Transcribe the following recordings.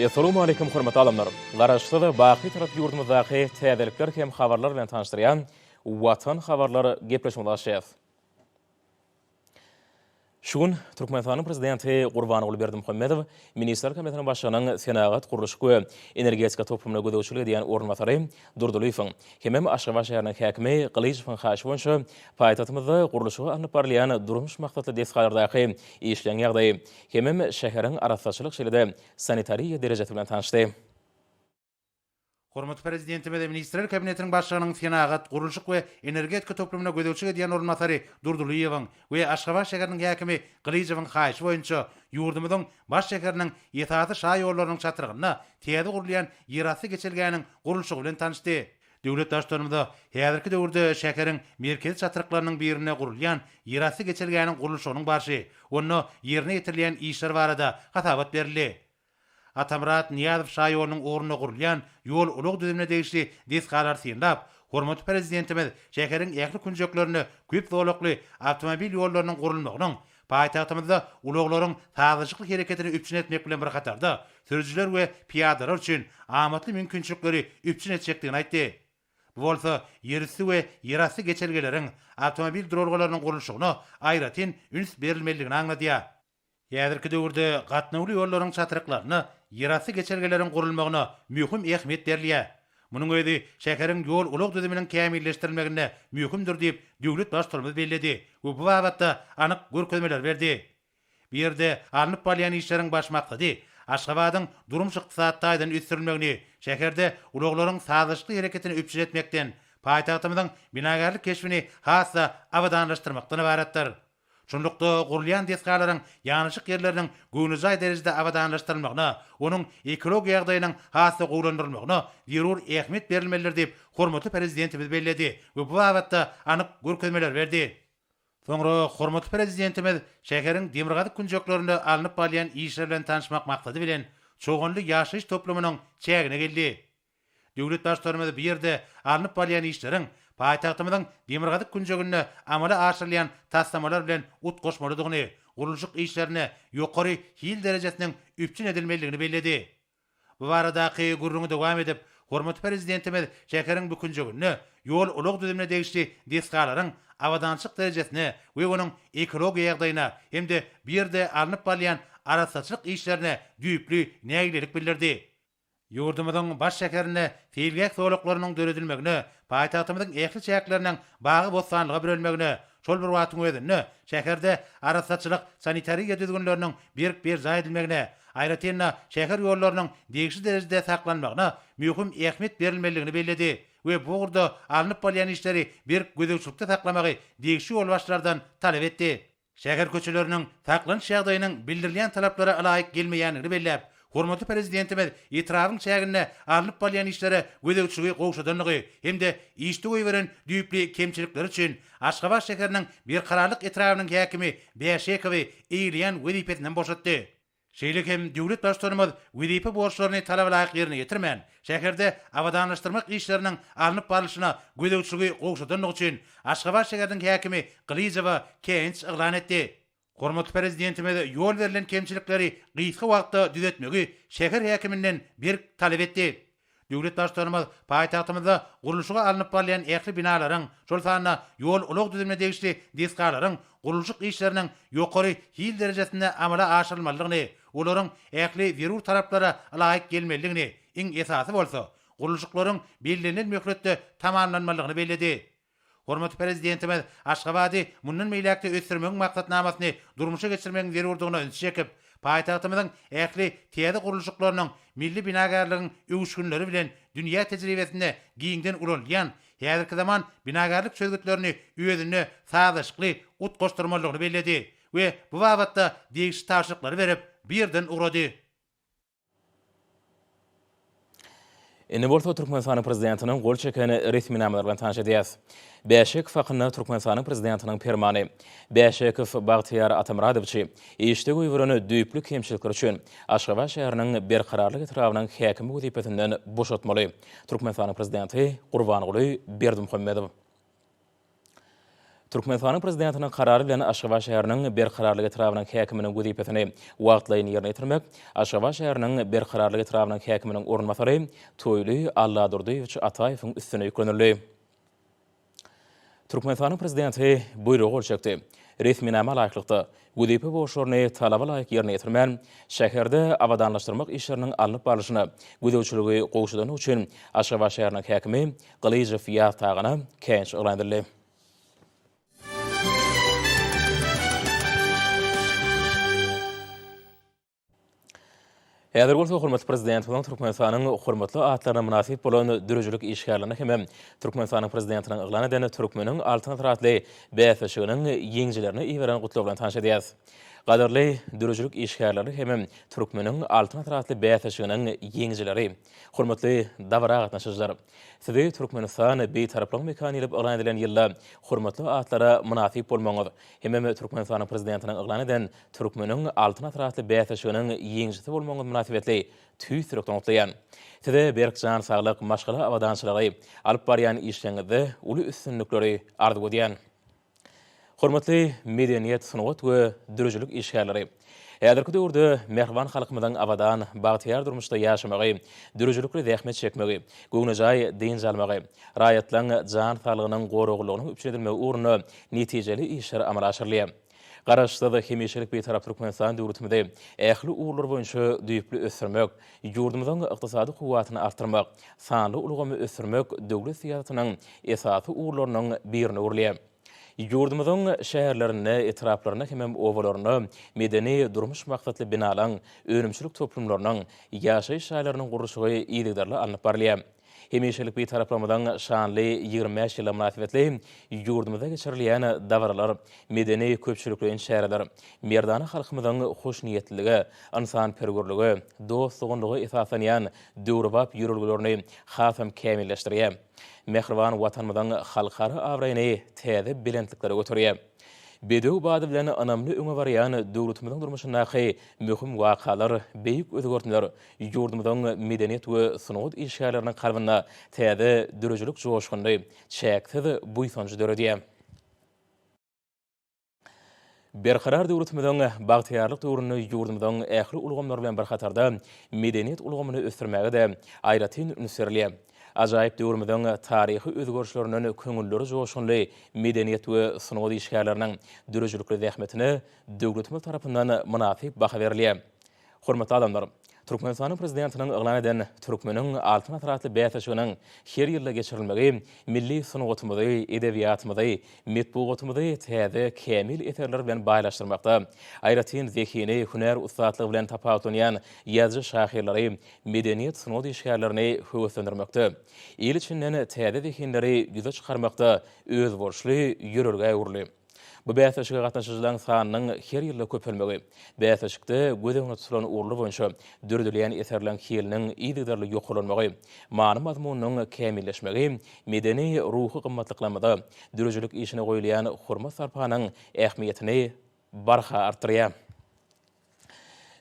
Essalamualeýkum hormatly adamlar! Garaşsyz, baky Tarap ýurdumyzdaky täzelikler hem habarlar bilen tanyşdyrýan Watan habarlar gepleşigimizi açýas. Şu gün Türkmenistanyň Prezidenti Gurbanguly Berdimuhamedow Ministrler Kabinetiniň Başlygynyň senagat, gurluşyk we energetika toplumyna gözegçilik edýän orunbasary Durdylyýewiň hemem Aşgabat şäheriniň häkimi Gylyjowyň haýyşy boýunça paýtagtymyzda gurluşygy alnyp barylýan durmuş maksatly desgalardaky işleň ýagdaýy Hemem şäheriň arassaçylyk şeýle-de sanitariýa derejesi bilen tanyşdy. Hormatly Prezidentimiz Ministrler Kabinetiniň Başlygynyň senagat, gurluşyk we energetika toplumyna gözegçilik edýän orunbasary Durdylyýewiň we Aşgabat şäheriniň häkimi Gylyjowyň haýyşy boýunça ýurdumyzyň baş şäheriniň esasy şaýollarynyň çatrygynda täze gurulýan ýerasty geçelgäniň gurluşygy bilen tanyşdy. Döwlet Baştutanymyza häzirki döwürde şäheriň merkezi çatryklarynyň birinde gurulýan ýerasty geçelgäniň gurluşygynyň barşy, onda ýerine ýetirilýän işler barada hasabat berildi. Atamyrat Nyýazow şaýolunyň ugrunda gurulýan ýol-ulag düzümine degişli desgalary synlap, hormatly Prezidentimiz şäheriň ähli künjeklerinde köp zolakly awtomobil ýollarynyň gurulmagynyň Paýtagtymyzda ulaglaryň sazlaşykly hereketini üpjün etmek bilen bir hatarda, sürüjiler we pyýadalar üçin amatly mümkinçilikleri üpjün etjekdigini aýtdy. Bu bolsa ýerüsti we ýerasty geçelgeleriň, awtomobil duralgalarynyň gurluşygyna aýratyn üns berilmelidigini aňladýar. Häzirki döwürde gatnawly ýollaryň çatryklarynda ýerasty geçelgeleriň gurulmagyna möhüm ähmiýet berilýär. Munuň özi şäheriň ýol-ulag düzüminiň kämilleşdirilmeginde möhümdir diýip, döwlet Baştutanymyz belledi we bu babatda anyk görkezmeleri berdi. Bu ýerde alnyp barylýan işleriň baş maksady Aşgabadyň durmuş-ykdysady taýdan ösdürilmegini, şäherde ulaglaryň sazlaşykly hereketini üpjün etmekden, paýtagtymyzyň binagärlik keşbini has-da abadanlaşdyrmakdan ybaratdyr. Şunlukda, gurulýan desgalaryň ýanaşyk ýerleriniň göwnejaý derejede abadanlaşdyrylmagyna, onuň ekologiýa ýagdaýynyň has-da gowulandyrylmagyna zerur ähmiýet berilmelidir diýip, hormatly Prezidentimiz belledi we bu babatda anyk görkezmeler berdi. Soňra hormatly Prezidentimiz şäheriň demirgazyk künjeklerinde alnyp barylýan işler bilen tanyşmak maksady bilen, Çoganly ýaşaýyş toplumynyň çägine geldi. Döwlet Baştutanymyz bu ýerde alnyp barylýan işleriň paýtagtymyzyň demirgazyk künjeginde amala aşyrylýan taslamalar bilen utgaşmalydygyny, gurluşyk işlerine ýokary hil derejesiniň üpjün edilmelidigini belledi. Bu baradaky gürrüňi dowam edip, hormatly Prezidentimiz şäheriň bu künjeginde ýol-ulag düzümine degişli desgalaryň abadançylyk derejesine we onuň ekologiýa ýagdaýyna hem-de bu ýerde alnyp barylýan arassaçylyk işlerine düýpli nägilelik bildirdi. Ýurdumyzyň baş şäherinde seýilgäh zolaklarynyň döredilmegine, paýtagtymyzyň ähli çäkleriniň bagy-bossanlyga bürenmegine, şol bir wagtyň özünde şäherde arassaçylyk, sanitariýa düzgünleriniň berk berjaý edilmegine, aýratyn-da, şäher ýollarynyň degişli derejede saklanmagyna möhüm ähmiýet berilmelidigini belledi we bu ugurda alnyp barylýan işleri berk gözegçilikde saklamagy degişli ýolbaşçylardan talap etdi. şäher köçeleriniň saklanyş ýagdaýynyň bildirilýän talaplara ylaýyk gelmeýändigini belläp, hormatly Prezidentimiz etrabyň çäginde alnyp barylýan işlere gözegçiligi gowşadandygy hem-de işde goýberen düýpli kemçilikleri üçin Aşgabat şäheriniň Berkararlyk etrabynyň häkimi Bäşekowy eýeleýän wezipesinden boşatdy. Şeýle hem döwlet Baştutanymyz wezipe borçlaryny talabalaýyk ýerine ýetirmän, şäherde abadanlaşdyrmak işleriniň alnyp barlyşyna gözegçiligi gowşadandygy üçin Aşgabat şäheriniň häkimi Gylyjowa käýinç yglan etdi. Hormatly Prezidentimiz ýol berlen kemçilikleri gysga wagtda düzetmegi şäher häkiminden berk talap etdi. Döwlet Baştutanymyz paýtagtymyzda gurluşygy alnyp barylýan ähli binalaryň, şol sanda ýol-ulag düzümine degişli desgalaryň gurluşyk işleriniň ýokary hil derejesinde amala aşyrylmalydygyny, olaryň ähli zerur talaplara ylaýyk gelmelidigini, iň esasy bolsa, gurluşyklaryň bellenilen möhletde tamamlanmalydygyny belledi. Hormatly Prezidentimiz Aşgabady mundan beýläk-de ösdürmegiň maksatnamasyny durmuşa geçirmegiň zerurdygyna ünsi çekip, paýtagtymyzyň ähli täze gurluşyklarynyň milli binagärligiň öwüşginleri bilen dünýä tejribesinde giňden ulanylýan häzirki zaman binagärlik çözgütlerini özünde sazlaşykly utgaşdyrmalydygyny belledi we bu babatda degişli tabşyryklary berip, bu ýerden ugrady. Indi bolsa Türkmenistanyň Prezidentiniň gol çeken resminamalary bilen tanyş edýäs. Bäşekow hakynda Türkmenistanyň Prezidentiniň Permany, Bäşekow Bagtyýar Atamyradowçy işde goýberen düýpli kemçilikleri üçin Aşgabat şäheriniň Berkararlyk etrabynyň häkimi wezipesinden boşatmaly, Türkmenistanyň Prezidenti Gurbanguly Berdimuhamedow. Türkmenistanyň Prezidentiniň Karary bilen Aşgabat şäheriniň Berkararlyk etrabynyň häkiminiň wezipesini wagtlaýyn ýerine ýetirmek Aşgabat şäheriniň Berkararlyk etrabynyň häkiminiň orunbasary Toýly Alladurdyýewiç Ataýewiň üstüne ýüklenildi. Türkmenistanyň Prezidenti Buýruga gol çekdi. Resminama laýyklykda, wezipe borçlaryny talaba laýyk ýerine ýetirmän, şäherde abadanlaşdyrmak işleriniň alnyp barlyşyna gözegçiligi gowşadandygy üçin Aşgabat şäheriniň häkimi Gylyjow Ýaz Tagana käýinç yglan edildi. Häzir bolsa hormatly Prezidentimiziň Türkmenistanyň hormatly atlaryna mynasyp bolan döredijilik işgärlerine hem-ä Türkmenistanyň Prezidentiniň yglan eden Türkmeniň Altyn asyry atly bäsleşiginiň ýeňijilerine iberen gutlagy bilen tanyş edýäris. Gadyrly döredijilik işgärleri hem-ä Türkmeniň Altyn asyry atly bäsleşiginiň ýeňijileri! Hormatly dabara gatnaşyjylar! Sizi Türkmenistan Bitaraplygyň mekany diýlip yglan edilen ýylda hormatly atlara mynasyp bolmagyňyz hem-ä Türkmenistanyň Prezidentiniň yglan eden Türkmeniň Altyn asyry atly bäsleşiginiň ýeňijisi bolmagyňyz mynasybetli tüýs ýürekden gutlaýan. Size berk jan saglyk, maşgala abadançylygy, alyp barýan işleriňizde uly üstünlikleri arzuw edýän. Hormatly medeniýet, sungat we dürüjilik işgärleri! Häzirki döwürde mähriban halkymyzyň abadan, bagtyýar durmuşda ýaşamagy, dürüjilikli zähmet çekmegi, göwnejaý dynç almagy, raýatlaryň jan saglygynyň goraglylygynyň üpjün edilmegi ugrunda netijeli işler amala aşyrylýar. Garaşsyz, hemişelik Bitarap Türkmenistan döwletimizi ähli ugurlar boýunça düýpli ösdürmek, ýurdumyzyň ykdysady kuwwatyny artdyrmak, sanly ulgamy ösdürmek döwlet syýasatynyň esasy ugurlarynyň birine öwrülýär. Ýurdumyzyň şäherlerinde, etraplarynda hemem obalarynda medeni-durmuş maksatly binalaň, önümçilik toplumlarynyň, ýaşaýyş jaýlarynyň gurluşygy yzygiderli alnyp barylýar. Hemişelik Bitaraplarymyzyň şanly ýigrimi bäş ýyly mynasybetli ýurdumyzda geçirilýän dabaralar, medeni-köpçülikleýin çäreler merdana halkymyzyň hoşniýetlilige, ynsanperwerlige, dost-doganlyga esaslanýan döwrebap ýörelgelerini hasam kämilleşdirýär, mähriban Watanymyzyň halkara abraýyny täze belentliklere göterýär. Bedew bady bilen ynamly öňe barýan döwletimiziň durmuşyndaky möhüm wakalar, beýik özgertmeler Ýurdumyzyň medeniýet we sungat işgärleriniň kalbynda täze döredijilik joşguny, çäksiz buýsanjy döredýär. Berkarar döwletimiziň bagtyýarlyk döwründe ýurdumyzyň ähli ulgamlary bilen bir hatarda medeniýet ulgamyny ösdürmäge-de aýratyn üns berilýär. Ajaýyp döwrümiziň taryhy özgerişlerinden köňülleri joşgunly medeniýet we sungat işgärleriniň döredijilikli zähmetine döwletimiz tarapyndan mynasyp baha berilýär. Hormatly adamlar! Türkmenistanyň Prezidentiniň yglan eden Türkmeniň Altyn asyry atly bäsleşiginiň her ýylda geçirilmegi milli sungatymyzy, edebiýatymyzy, metbugatymyzy täze, kämil eserler bilen baýlaşdyrmakda, aýratyn zehini, hünär ussatlygy bilen tapawutlanýan ýazyjy-şahyrlary, medeniýet-sungat işgärlerini höweslendirmekde, il içinden täze zehinleri ýüze çykarmakda özboluşly ýörelgä öwrüldi. Bu bäsleşige gatnaşyjylaryň sanynyň her ýylda köpelmegi, bäsleşikde göz öňüne tutulan ugurlar boýunça döredilýän eserleriň hiliniň yzygiderli ýokarlanmagy, many-mazmunynyň kämilleşmegi, medeni, ruhy gymmatlyklarymyza, döredijilik işine goýulýan hormat-sarpanyň ähmiýetini barha artdyrýar.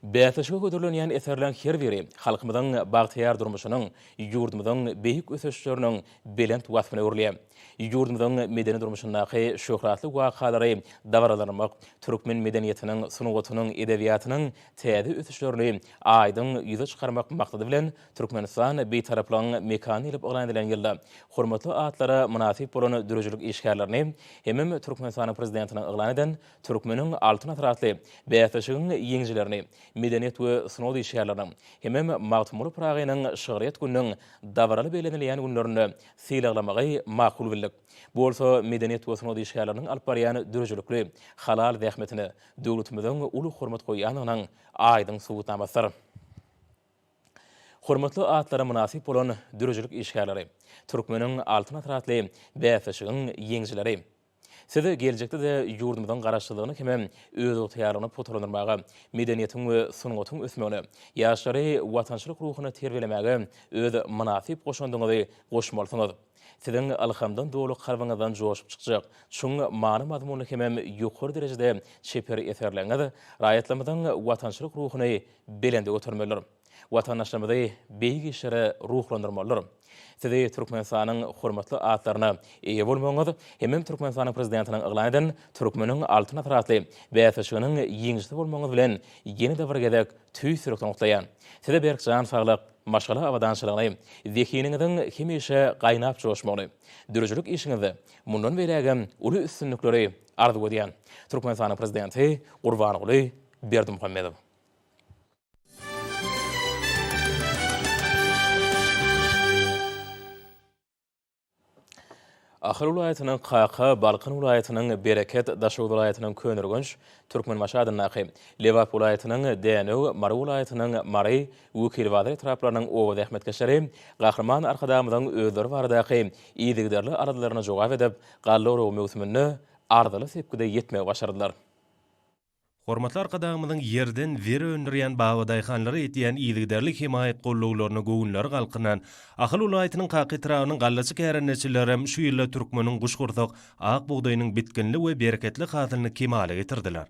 Bäsleşige hödürlenýän eserleriň her biri halkymyzyň bagtyýar durmuşynyň, ýurdumyzyň beýik ösüşleriniň belent waspyna öwrülýär. Ýurdumyzyň medeni durmuşyndaky şöhratly wakalary dabaralandyrmak türkmen medeniýetiniň, sungatynyň, edebiýatynyň täze ösüşlerini aýdyň ýüze çykarmak maksady bilen, Türkmenistan Bitaraplygyň mekany diýlip yglan edilen ýylda hormatly atlara mynasyp bolan döredijilik işgärlerini hemem Türkmenistanyň Prezidentiniň yglan eden Türkmeniň Altyn asyry atly bäsleşigiň ýeňijilerini medeniýet we sungat işgärleriniň hemem Magtymguly Pyragynyň şygryýet gününiň dabaraly bellenilýän günlerinde sylaglamagy makul bildik. Bu bolsa medeniýet we sungat işgärleriniň alyp barýan döredijilikli, halal zähmetine döwletimiziň uly hormat goýýandygynyň aýdyň subutnamasydyr. Hormatly atlara mynasyp bolan döredijilik işgärleri, Türkmeniň Altyn asyry atly bäsleşigiň ýeňijileri! Siz geljekde-de ýurdumyzyň Garaşsyzlygyny hem-ä özygtyýarlygyny pugtalandyrmaga, medeniýetiň we sungatyň ösmegine, ýaşlary watançylyk ruhuna terbiýelemäge öz mynasyp goşandyňyzy goşmalysyňyz. Siziň ylhamdan doly kalbyňyzdan joşup çykjak, çuň many-mazmunly hem-ä ýokary derejede çeper eserleriňiz raýatlarymyzyň watançylyk ruhuny belende götermelidir. Watandaşlarymyzy beýik işlere ruhlandyrmalydyr. Sizi Türkmenistanyň hormatly atlaryna eýe bolmagyňyz hemem Türkmenistanyň Prezidentiniň yglan eden Türkmeniň Altyn asyry atly bäsleşiginiň ýeňijisi bolmagyňyz bilen ýene-de bir gezek tüýs ýürekden gutlaýan. Size berk jan saglyk, maşgala abadançylygyny, zehiniňiziň hemişe gaýnap joşmagyny, döredijilik işiňizde mundan beýlägem uly üstünlikleri arzuw edýän. Türkmenistanyň Prezidenti Gurbanguly Berdimuhamedow. Ahal welaýatynyň Kaka, Balkan welaýatynyň Bereket, Daşoguz welaýatynyň Köneürgenç, Türkmenbaşy adyndaky, Lebap welaýatynyň Dänew, Mary welaýatynyň Mary, Wekilibazar etraplarynyň oba zähmetkeşleri Gahryman Arkadagymyzyň özleri baradaky yzygiderli aladalaryna jogap edip, galla oragy möwsüminde arzyly sepgide ýetmegi başardylar. Hormatly Arkadagymyzyň ýerden zer öndürýän babadaýhanlara etýän yzygiderli hemaýat gollawlaryna göwünleri galkynan Ahal welaýatynyň Kaka etrabynyň gallaçy kärendeçilerem şu ýylda türkmeniň guşgursak ak bugdaýynyň bitginli we bereketli hasylyny kemala getirdiler.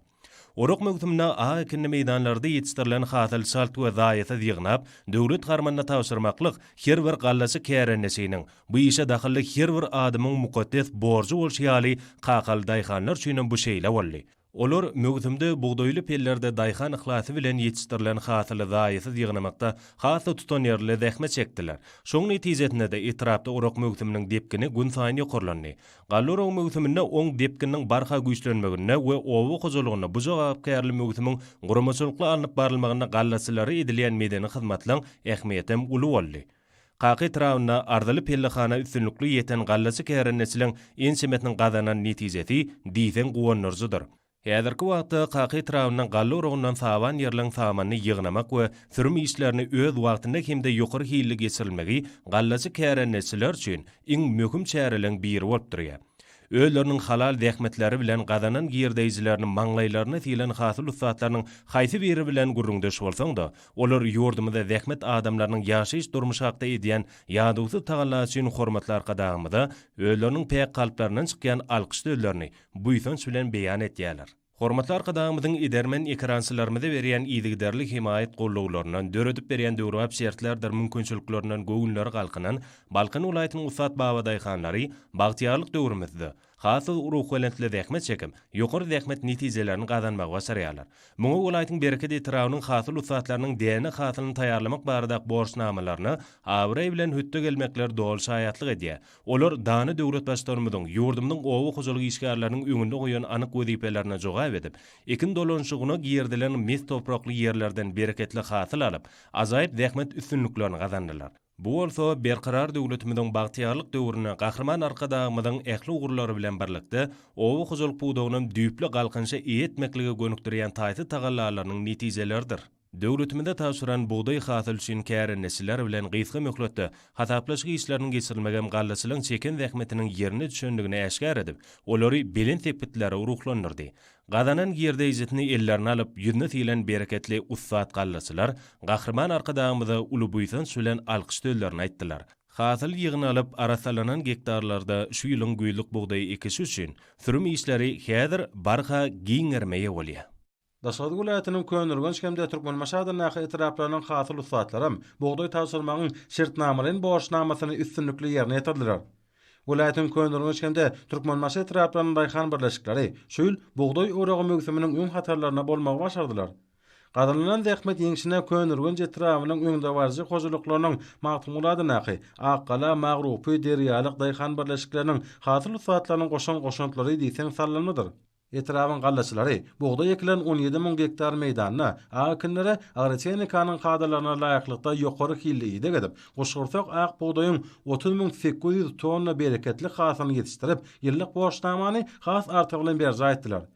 Orak möwsüminde ak ekinli meýdanlarda ýetişdirilen hasyl çalt we zaýasyz ýygnap, döwlet harmanyna tabşyrmaklyk her bir gallaçy kärendeçiniň, bu işe dahylly her bir adamyň mukaddes borjy bolşy ýaly, kakaly daýhanlar üçinem bu şeýle boldy. Olar möwsümde bugdaýly pellerde daýhan yhlasy bilen ýetişdirilen hasyly zaýasyz ýygnamakda has-da tutanýerli zähmet çekdiler. Şoň netijesinde-de etrapda orak möwsüminiň depgini günsaýyn ýokarlandy. Galla oragy möwsüminde oň depgininiň barha güýçlenmeginde we oba hojalygynda bu jogapkärli möwsümiň guramaçylykly alnyp barylmagynda gallaçylara edilýän medeni hyzmatlaň ähmiýetem uly boldy. Kaka etrabynda arzyly pellehana üstünlikli ýeten gallaçy kärendeçiliň ençemesiniň gazanan netijesi diýseň guwandyryjydyr. Häzirki wagtda Kaka etrabynda galla urugyndan saban ýerligiň samanyny ýygnamak we sürüm işlerini öz wagtynda hem-de ýokary hilli geçirilmegi gallaçy kärendeçiler üçin iň möhüm çäreleň biri bolup durýar. Özleriniň halal zähmetleri bilen gazanan girdeýjilerini maňlaýlaryna sylan hasyl ussatlarynyň haýsy biri bilen gürrüňdeş bolsaň-da, Olar ýurdumyzda zähmet adamlarynyň ýaşaýyş-durmuşy hakda edýän ýadawsyz tagallasy üçin hormatly Arkadagymyza özleriniň päk kalplaryndan çykýan alkyş sözlerini buýsanç bilen beýan etýärler. Hormatly Arkadagymyzyň edermen ekerançylarymyza berýän yzygiderli hemaýat gollawlaryndan, döredip berýän döwrebap şertlerdir mümkinçiliklerinden göwünleri galkynan Balkan welaýatynyň ussat babadaýhanlary bagtyýarlyk döwrümizde, Has ruhubelentli zähmet çekip, ýokary zähmet netijelerini gazanmagy başarýarlar. Muňa welaýatyň Bereket etrabynyň hasyl ussatlarynyň däne hasylyny taýýarlamak barada borçnamalaryna abraý bilen hötde gelmekleri doly şaýatlyk edýär. Olar dana döwletbaşlarymyzyň ýurdumyzyň oba hojalyk işgärleriniň öňünde goýan anyk wezipelerine jogap edip, ekin dolanyşygyna girizilen mes toprakly ýerlerden bereketli hasyl alyp, ajaýyp zähmet üstünliklerini gazandylar. Bu bolsa Berkarar döwletimiziň bagtyýarlyk döwründe Gahryman Arkadagymyzyň ähli ugurlary bilen birlikde, oba hojalyk pudagynam düýpli galkynyşa eýe etmeklige gönükdirýän taýsyz tagallalarynyň netijeleridir. Döwletimize tabşyran bugdaý hasyly üçin kärendeçiler bilen gysga möhletde hasaplaşyk işleriniň geçirilmegem gallaçylaryň çeken zähmetiniň ýerine düşendigini äşgär edip, olary belent sepgitlere ruhlandyrdy. Gazanan girdeýjisini ellerine alyp, ýüzüne silen bereketli ussat gallaçylar Gahryman Arkadagymyza uly buýsanç bilen alkyş sözlerini aýtdylar. Hasyl ýygnalyp, arassalanan gektarlarda şu ýylyň güýzlük bugdaý ekişi üçin sürüm işleri häzir barha giňerime eýe bolýar. Daşoguz welaýatynyň Köneürgenç hem-de Türkmenbaşy adyndaky etraplarynyň hasyl ussatlaram bugdaý tabşyrmagyň şertnamalaýyn borçnamasyny üstünlikli ýerine ýetirdiler. Welaýatyň Köneürgenç hem-de Türkmenbaşy etraplarynyň daýhan birleşikleri şu ýyl bugdaý oragy möwsüminiň öň hatarlarynda bolmagy başardylar. Gazanylan zähmet ýeňşine Köneürgenç etrabynyň öňdebaryjy hojalyklarynyň Magtymguladyndaky, Akgala, Magrupy, Derýalyk daýhan birleşikleriniň hasyl ussatlarynyň goşan goşantlary diýseň sallanmadyr. Etrabyň gallaçylary bugdaý ekilen on ýedi müň gektar meýdanda ak ekinlere agrotehnikanyň kadalaryna laýyklykda ýokary hilli ideg edip, guşgursak ak bugdaýyň otuz müň sekiz ýüz tonna bereketli hasylyny ýetişdirip, ýyllyk borçnamany has artygy bilen berjaý etdiler.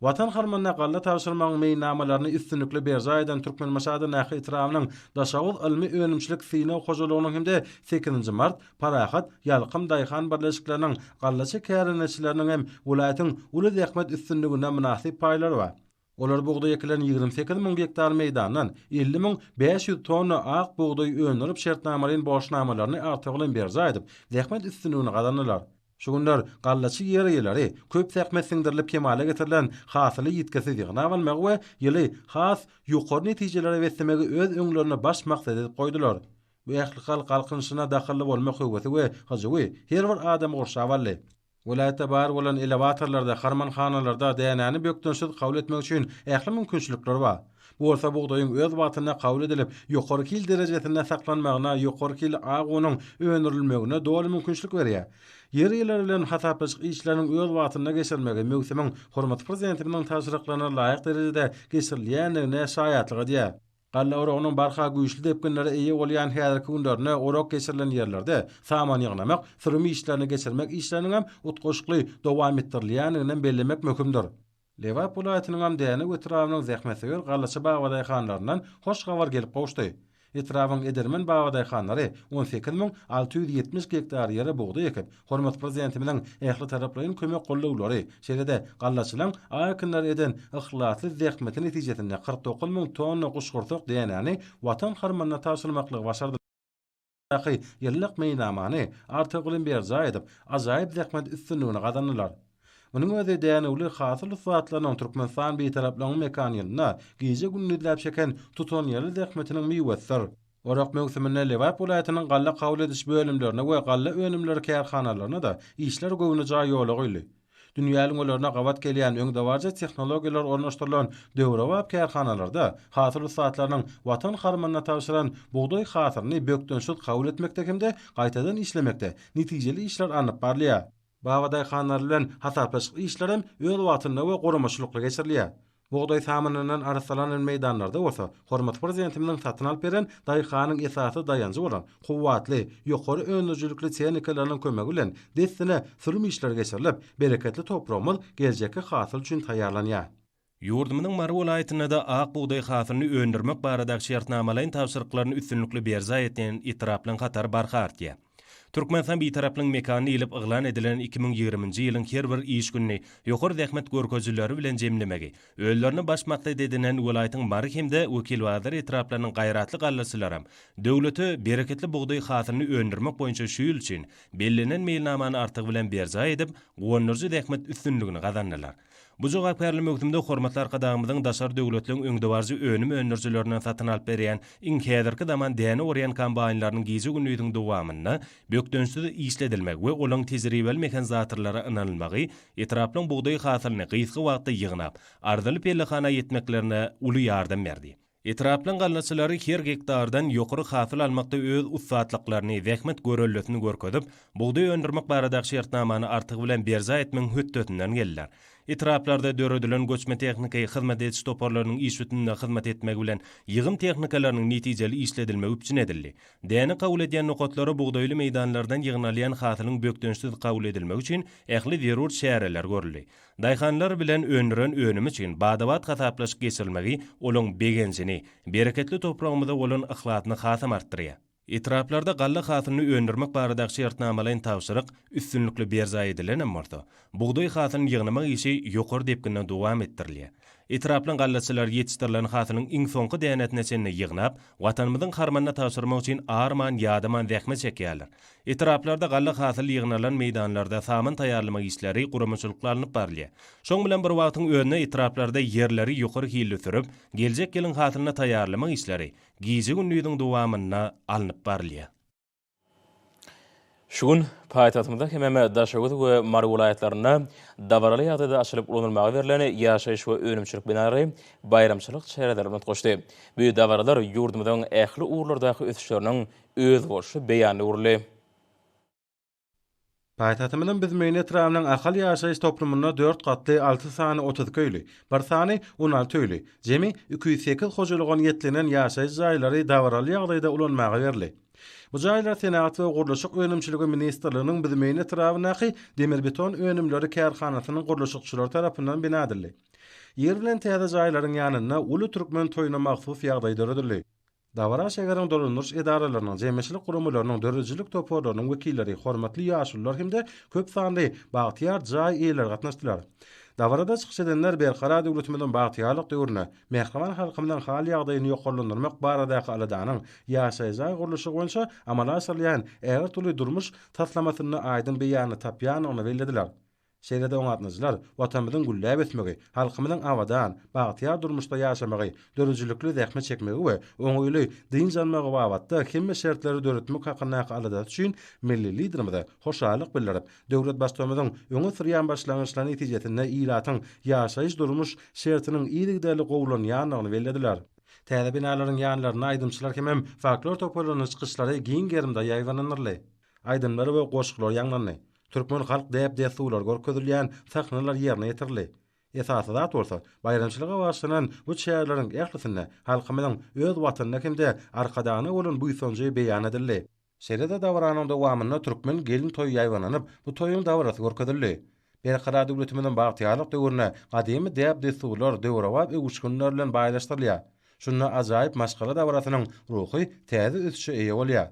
Watan harmanyna galla tabşyrmagyň meýilnamalaryny üstünlikli berjaý eden Türkmenbaşy Adanahy etrabynyň Daşoguz ylmy-önümçilik synag hojalygynyň hem-de sekizinji mart, Parahat, Ýalkym daýhan birleşikleriniň gallaçy kärendeçileriniň hem welaýatyň uly zähmet üstünligine mynasyp paýlary bar. Olar bugdaý ekilen ýigrimi sekiz müň gektar meýdandan elli müň bäş ýüz tonna ak bugdaý öndürip şertnamalaýyn borçnamalaryny artygy bilen berjaý edip, zähmet üstünligini gazandylar. Şu günler gallaçy ýer eýeleri köp zähmet siňdirilip kemala getirilen hasyly ýitgisiz ýygnap almagy we ýyly has ýokary netijelere beslemegi öz öňlerine baş maksat edip goýdular. Bu ählihalk galkynyşyna dahylly bolmak höwesi we hyjuwy her bir adamy gurşap aldy. Welaýatda bar bolan elewatorlarda, harmanhanalarda dänäni bökdençsiz kabul etmek üçin ähli mümkinçilikler bar. Bu bolsa bugdaýyň öz wagtynda kabul edilip, ýokary hil derejesinde saklanmagyna, ýokary hilli ak unuň öndürilmegine doly mümkinçilik berýär. Ýer eýeleri bilen hasaplaşyk işleriniň öz wagtynda geçirilmegi möwsümiň hormatly Prezidentimiziň tabşyryklaryna laýyk derejede geçirilýändigine şaýatlyk edýär. Galla oragynyň barha güýçli depginlere eýe bolýan häzirki günlerinde orak geçirilen ýerlerde saman ýygnamak, sürüm işlerini geçirmek işleriniň hem utgaşykly dowam etdirilýändigini hem bellemek möhümdir. Lebap welaýatynyň hem Dänew etrabynyň zähmetsöýer gallaçy babadaýhanlaryndan hoş habar gelip gowuşdy. Etrabyň edermen babadaýhanlary on sekiz müň alty ýüz ýetmiş gektar ýere bugdaý ekip, Hormatly Prezidentimiziň ählitaraplaýyn kömek gollawlary, şeýle-de gallaçylaryň aý ekinlere eden yhlasly zähmeti netijesinde kyrk dokuz müň tonna guşgursak dänäni Watan harmanyna tabşyrmaklygy başardylar. Daky ýyllyk meýilnamany artygylym berjaý edip, ajaýyp zähmet üstünligini gazandylar. Munuň özi dänewli hasyl ussatlarynyň Türkmenistan Bitaraplygynyň mekan ýylynda gije-gündizläp çeken tutanýerli zähmetiniň miwesidir. Orak möwsüminde Lebap welaýatynyň galla kabul ediş bölümlerine we galla önümleri kärhanalaryna-da işler göwnejaý ýola goýuldy. Dünýä ülňülerine gabat gelýän öňdebaryjy tehnologiýalar ornaşdyrylan döwrebap kärhanalarda hasyl ussatlarynyň Watan harmanyna tabşyran bugdaý hasylyny bökdençsiz kabul etmekde hem-de gaýtadan işlemekde netijeli işler alnyp barylýar. Babadaýhanlar bilen hasaplaşyk işleri hem öz wagtynda we guramaçylykly geçirilýär. Bugdaý samanyndan arassalanan meýdanlarda bolsa hormatly Prezidentimiziň satyn alyp beren daýhanyň esasy daýanjy bolan kuwwatly, ýokary öndürijilikli tehnikalarynyň kömegi bilen dessine sürüm işleri geçirilip, bereketli topragymyz geljekki hasyl üçin taýýarlanýar. Ýurdumyzyň Mary welaýatynda-da ak bugdaý hasylyny öndürmek baradaky şertnamalaýyn tabşyryklaryny üstünlikli berjaý edýän etraplaryň hatary barha artýar. Türkmenistan Bitaraplygyň mekany diýlip yglan edilen iki müň ýigriminji ýylyň her bir iş gününi ýokary zähmet görkezijileri bilen jemlemegi özlerine baş maksat edinen welaýatyň Mary hem-de Wekilbazar etraplarynyň gaýratly gallaçylaram döwlete bereketli bugdaý hasylyny öndürmek boýunça şu ýyl üçin bellenen meýilnamany artygy bilen berjaý edip guwandyryjy zähmet üstünligini gazandylar. Bu jogapkärli möwsümde Hormatly Arkadagymyzyň daşary döwletleriň öňdebaryjy önüm öndürijilerinden satyn alyp berýän iň häzirki zaman däne orýan kombaýnlarynyň gije-gündiziň dowamynda bökdençsiz işledilmegi we olaryň tejribeli mehanizatorlara ynanylmagy etraplaryň bugdaý hasylyny gysga wagtda ýygnap, arzyly pellehana ýetmeklerine uly ýardam berdi. Etraplaryň gallaçylary her gektardan ýokary hasyl almakda öz ussatlyklaryny, zähmet görellesini görkezip, bugdaý öndürmek baradaky şertnamany artygy bilen berjaý etmegiň hötdesinden geldiler. Etraplarda döredilen göçme tehniki hyzmat ediş toparlarynyň iş sütünine hyzmat etmegi bilen ýygym tehnikalarynyň netijeli işledilmegi üpjün edildi. Däne kabul edýän nokatlara bugdaýly meýdanlardan ýygnalýan hasylyň bökdençsiz kabul edilmegi üçin ähli zerur çäreler görüldi. Daýhanlar bilen öndüren önümi üçin bada-bat hasaplaşyk geçirilmegi olaň begenjini, bereketli topragymyza bolan yhlasyny hasam artdyrýar. Etraplarda galla hasylyny öndürmek baradaky şertnamalaýyn tabşyryk üstünlikli berjaý edilen hem bolsa, bugdaý hasylyny ýygnamak işi ýokary depginde dowam etdirilýär. Etraplaň gallaçylary ýetişdirilen hasylyň iň soňky dänesine çenli ýygnap, Watanymyzyň harmanyna tabşyrmak üçin arman-ýadaman zähmet çekýärler. Etraplarda galla hasyl ýygnalan meýdanlarda saman taýýarlamak işleri guramaçylykly alnyp barylýar. Şoň bilen bir wagtyň özünde etraplarda ýerleri ýokary hilli sürüp, geljek ýylyň hasylyna taýýarlamak işleri gije-gündiziň dowamynda alnyp barylýar. Şu gün paýtagtymyzda hemem Daşoguz we Mary welaýatlarynda dabaraly ýagdaýda açylyp ulanylmaga berlen ýaşaýyş we önümçilik binalary baýramçylyk çärelerine utgaşdy. Bu dabaralar ýurdumyzyň ähli ugurlardaky ösüşleriniň özboluşly beýan öwrüldi. Paýtagtymyzyň Büzmeýin etrabynyň Ahal ýaşaýyş toplumynda dört gatly alty sany otuz iki öýli, bir sany on alty öýli, jemi iki ýüz sekiz hojalyga niýetlenen ýaşaýyş jaýlary dabaraly ýagdaýda ulanmaga berildi. Bu jaýlar Senagat we gurluşyk önümçiligi ministrliginiň Büzmeýin etrabyndaky Demirbeton önümleri kärhanasynyň gurluşykçylary tarapyndan bina edildi. Ýer bilen täze jaýlaryň ýanynda uly türkmen toýuna mahsus ýagdaý döredildi. Dabara şäheriň dolandyryş edaralarynyň, jemgyýetçilik guramalarynyň, döredijilik toparlarynyň wekilleri, hormatly ýaşulular hem-de köp sanly bagtyýar jaý eýeleri gatnaşdylar. Dabarada çykyş edenler Berkarar döwletimiziň bagtyýarlyk döwründe mähriban halkymyzyň hal-ýagdaýyny ýokarlandyrmak baradaky aladanyň ýaşaýyş jaý gurluşygy boýunça amala aşyrylýan ägirt uly durmuş taslamasynda aýdyň beýanyny tapýandygyny bellediler. Şeýle-de oňatlyjylar Watanymyzyň gülläp ösmegi, halkymyzyň abadan, bagtyýar durmuşda ýaşamagy, döredijilikli zähmet çekmegi we oňaýly dynç almagy babatda hemme şertleri döretmek hakyndaky aladasy üçin milli Liderimize hoşallyk bildirip, döwlet Baştutanymyzyň öňe sürýän başlangyçlary netijesinde ilatyň ýaşaýyş-durmuş şertiniň yzygiderli gowulanýandygyny bellediler. Täze binalaryň ýanlarynda aýdymçylar hemem folklor toparlarynyň çykyşlary giň gerimde ýaýbaňlandyryldy. Aýdymlar we goşgular ýaňlandy. Türkmen halk däp-dessurlary görkezilýän sahnalar ýerine ýetirildi. Esasy zat bolsa, baýramçylyga bagyşlanan bu çäreleriň ählisinde halkymyzyň öz Watanyna hem-de Arkadagna bolan buýsanjy beýan edildi. Şeýle-de dabaranyň dowamynda türkmen gelin toýy ýaýbaňlanyp, bu toýuň dabarasy görkezildi. Berkarar döwletimiziň bagtyýarlyk döwrüne gadymy däp-dessurlar döwrebap öwüşginler bilen baýlaşdyrylýar. Şunda ajaýyp maşgala dabarasynyň ruhy täze ösüşe eýe bolýar.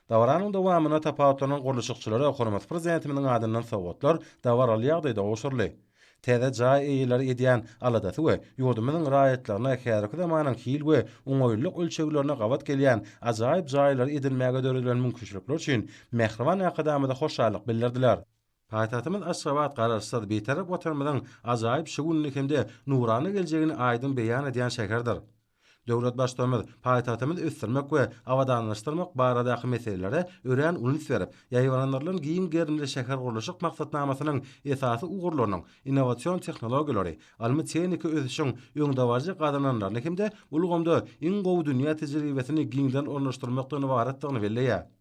Dabaranyň dowamynda tapawutlanan gurluşykçylara hormatly Prezidentimiziň adyndan sowgatlar dabaraly ýagdaýda gowşuryldy. Täze jaý eýeleri edýän aladasy we ýurdumyzyň raýatlaryna häzirki zamanyň hil we oňaýlylyk ölçeglerine gabat gelýän ajaýyp jaýlary edinmäge döredilen mümkinçilikler üçin mähriban Arkadagymyza hoşallyk bildirdiler. Paýtagtymyz Aşgabat Garaşsyz, Bitarap Watanymyzyň ajaýyp şu gününi hem-de nurana geljegini aýdyň beýan edýän şäherdir. Döwlet Baştutanymyz paýtagtymyzy ösdürmek we abadanlaşdyrmak baradaky meselelere örän uly üns berip, ýaýbaňlandyrylan giň gerimli şähergurluşyk maksatnamasynyň esasy ugurlarynyň, innowasion tehnologiýalary, ylmy-tehniki ösüşiň öňdebaryjy gazananlaryny hem-de ulgamda iň gowy dünýä tejribesini giňden ornaşdyrmakdan ybaratdygyny belleýär.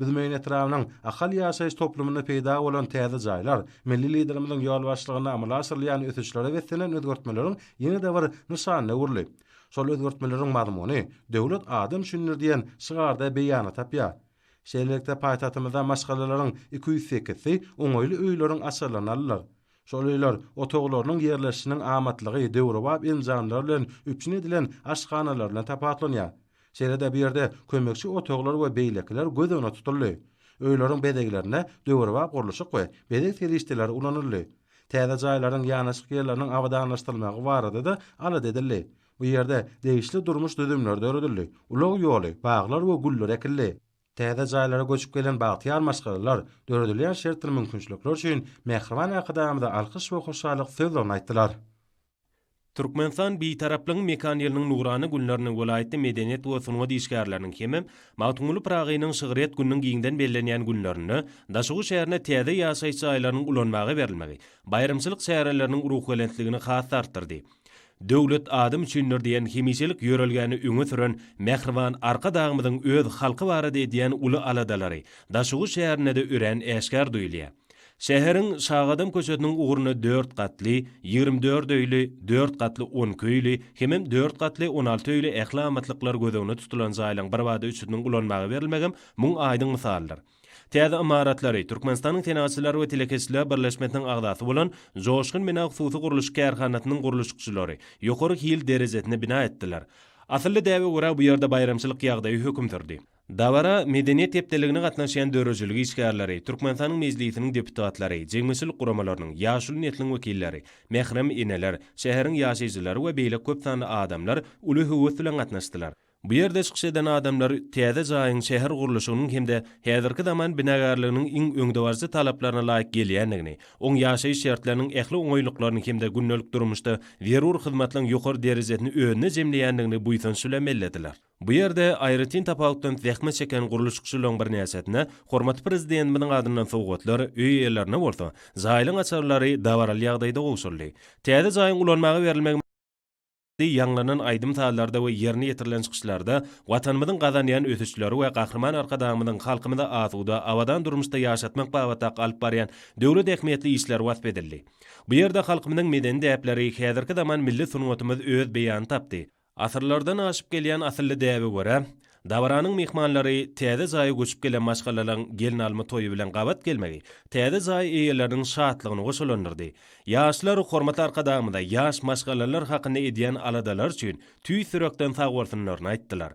Büzmeýin etrabynyň Ahal ýaşaýyş toplumynda peýda bolan täze jaýlar, milli Liderimiziň ýolbaşçylygynda amala aşyrylýan ösüşlere beslenen özgertmeleriň ýene-de bir nyşanyna öwrüldi. Şol özgertmeleriň mazmuny Döwlet adam üçindir diýen şygarda beýanyny tapýar. Şeýlelikde, paýtagtymyzda maşgalalaryň iki ýüz sekizsi oňaýly öýleriň açarlaryny aldylar. Şol öýler otaglarynyň ýerleşişiniň amatlygy döwrebap enjamlar bilen üpjün edilen aşhanalaryndan tapawutlanýar. Şeýle-de bu ýerde kömekçi otaglar we beýlekiler göz öňüne tutuldy. Öýleriň bezeglerinde döwrebap gurluşyk we bezeg serişdeleri ulanyldy. Täze jaýlaryň ýanaşyk ýerleriniň abadanlaşdyrylmagy barada-da alada edildi. Bu ýerde degişli durmuş düzümleri döredildi, ulag ýoly, baglar we güller ekildi. Täze jaýlara göçüp gelen bagtyýar maşgalalar döredilýän şert we mümkinçilikler üçin mähriban Arkadagymyza alkyş we hoşallyk sözlerini aýtdylar. Türkmenistan Bitaraplygyň mekan ýylynyň nurana günlerini welaýatda medeniýet we sungat işgärleriniň hem-ä Magtymguly Pyragynyň şygryýet gününiň giňden bellenýän günlerinde Daşoguz şäherine täze ýaşaýyş jaýlarynyň ulanmaga berilmegi baýramçylyk çäreleriniň ruhubelentligini has-da artdyrdy. Döwlet adam üçindir diýen hemişelik ýörelgäni öňe süren mähriban Arkadagymyzyň öz halky barada edýän uly aladalary Daşoguz şäherinde-de örän äşgär duýulýar. Şäheriň Şagadam köçesiniň ugrunda dört gatly, ýigrimi dört öýli, dört gatly, on iki öýli hemem dört gatly, on alty öýli ähli amatlyklar göz öňüne tutulan jaýlaryň birbada üçüsiniň ulanmaga berilmegem muň aýdyň mysalydyr. Täze ymaratlary Türkmenistanyň Senagatçylar we telekeçiler birleşmesiniň agzasy bolan Joşgun bina hususy gurluşyk kärhanasynyň gurluşykçylary ýokary hil derejesinde bina etdiler. Asylly däbe görä bu ýerde baýramçylyk ýagdaýy höküm sürdi. Dabara Medeniýet hepdeligine gatnaşýan döredijilik işgärleri, Türkmenistanyň Mejlisiniň deputatlary, jemgyýetçilik guramalarynyň, ýaşuly nesliň wekilleri, mährem eneler, şäheriň ýaşaýjylary we beýleki köp sanly adamlar uly höwes bilen gatnaşdylar. Bu ýerde çykyş eden adamlar täze jaýyň şäher gurluşygynyň hem-de häzirki zaman binagärliginiň iň öňdebaryjy talaplaryna laýyk gelýändigini, oň ýaşaýyş şertleriniň ähli oňaýlyklaryny hem-de gündelik durmuşda zerur hyzmatlaryň ýokary derejesini özünde jemleýändigini buýsanç bilen bellediler. Bu ýerde aýratyn tapawutdan zähmet çeken gurluşykçylaryň birnäçesine hormatly Prezidentimiziň adyndan sowgatlar, öý eýelerine bolsa, jaýlaryň açarlary dabaraly ýagdaýda gowşuryldy. Täze jaýyň ulanmaga berilmegi, Di ýaňlanan aýdym-sazlarda we ýerine ýetirilen çykyşlarda Watanymyzyň gazanýan ösüşleri we Gahryman Arkadagymyzyň halkymyzy asuda, abadan durmuşda ýaşatmak babatdaky alyp barýan döwlet ähmiýetli işleri wasp edildi. Bu ýerde halkymyzyň medeni däpleri, häzirki zaman milli sungatymyz öz beýany tapdy. Asyrlardan aşyp gelýän asylly däbe görä, Dabaranyň myhmanlary täze jaýa göçüp gelen maşgalalaryň gelnalma toýy bilen gabat gelmegi täze jaý eýeleriniň şatlygyny goşalandyrdy. Ýaşlar hormatly Arkadagymyza ýaş maşgalalar hakynda edýän aladalary üçin tüýs ýürekden sagbolsunlaryny aýtdylar.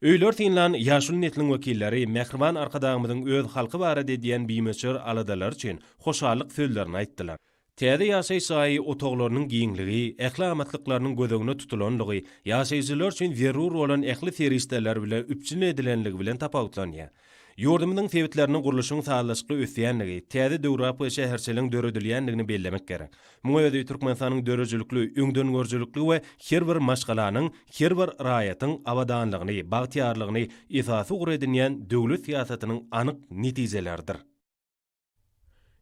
Öýler synlan ýaşuly nesliň wekilleri mähriban Arkadagymyzyň öz halky barada edýän bimöçber aladalary üçin hoşallyk sözlerini aýtdylar. Täze ýaşaýyş jaýy otaglarynyň giňligi, ähli amatlyklarynyň göz öňünde tutulanlygy, ýaşaýjylar üçin zerur bolan ähli serişdeler bilen üpjün edilenligi bilen tapawutlanýar. Ýurdumyzyň sebitlerinde gurluşyň sazlaşykly ösýändigi, täze döwrebap şäherçeligiň döredilýändigini bellemek gerek. Muň özi Türkmenistanyň döredijilikli, öňdengörüjilikli we her bir maşgalanyň, her bir raýatyň abadanlygyny, bagtyýarlygyny esasy ugur edinýän döwlet syýasatynyň anyk netijeleridir.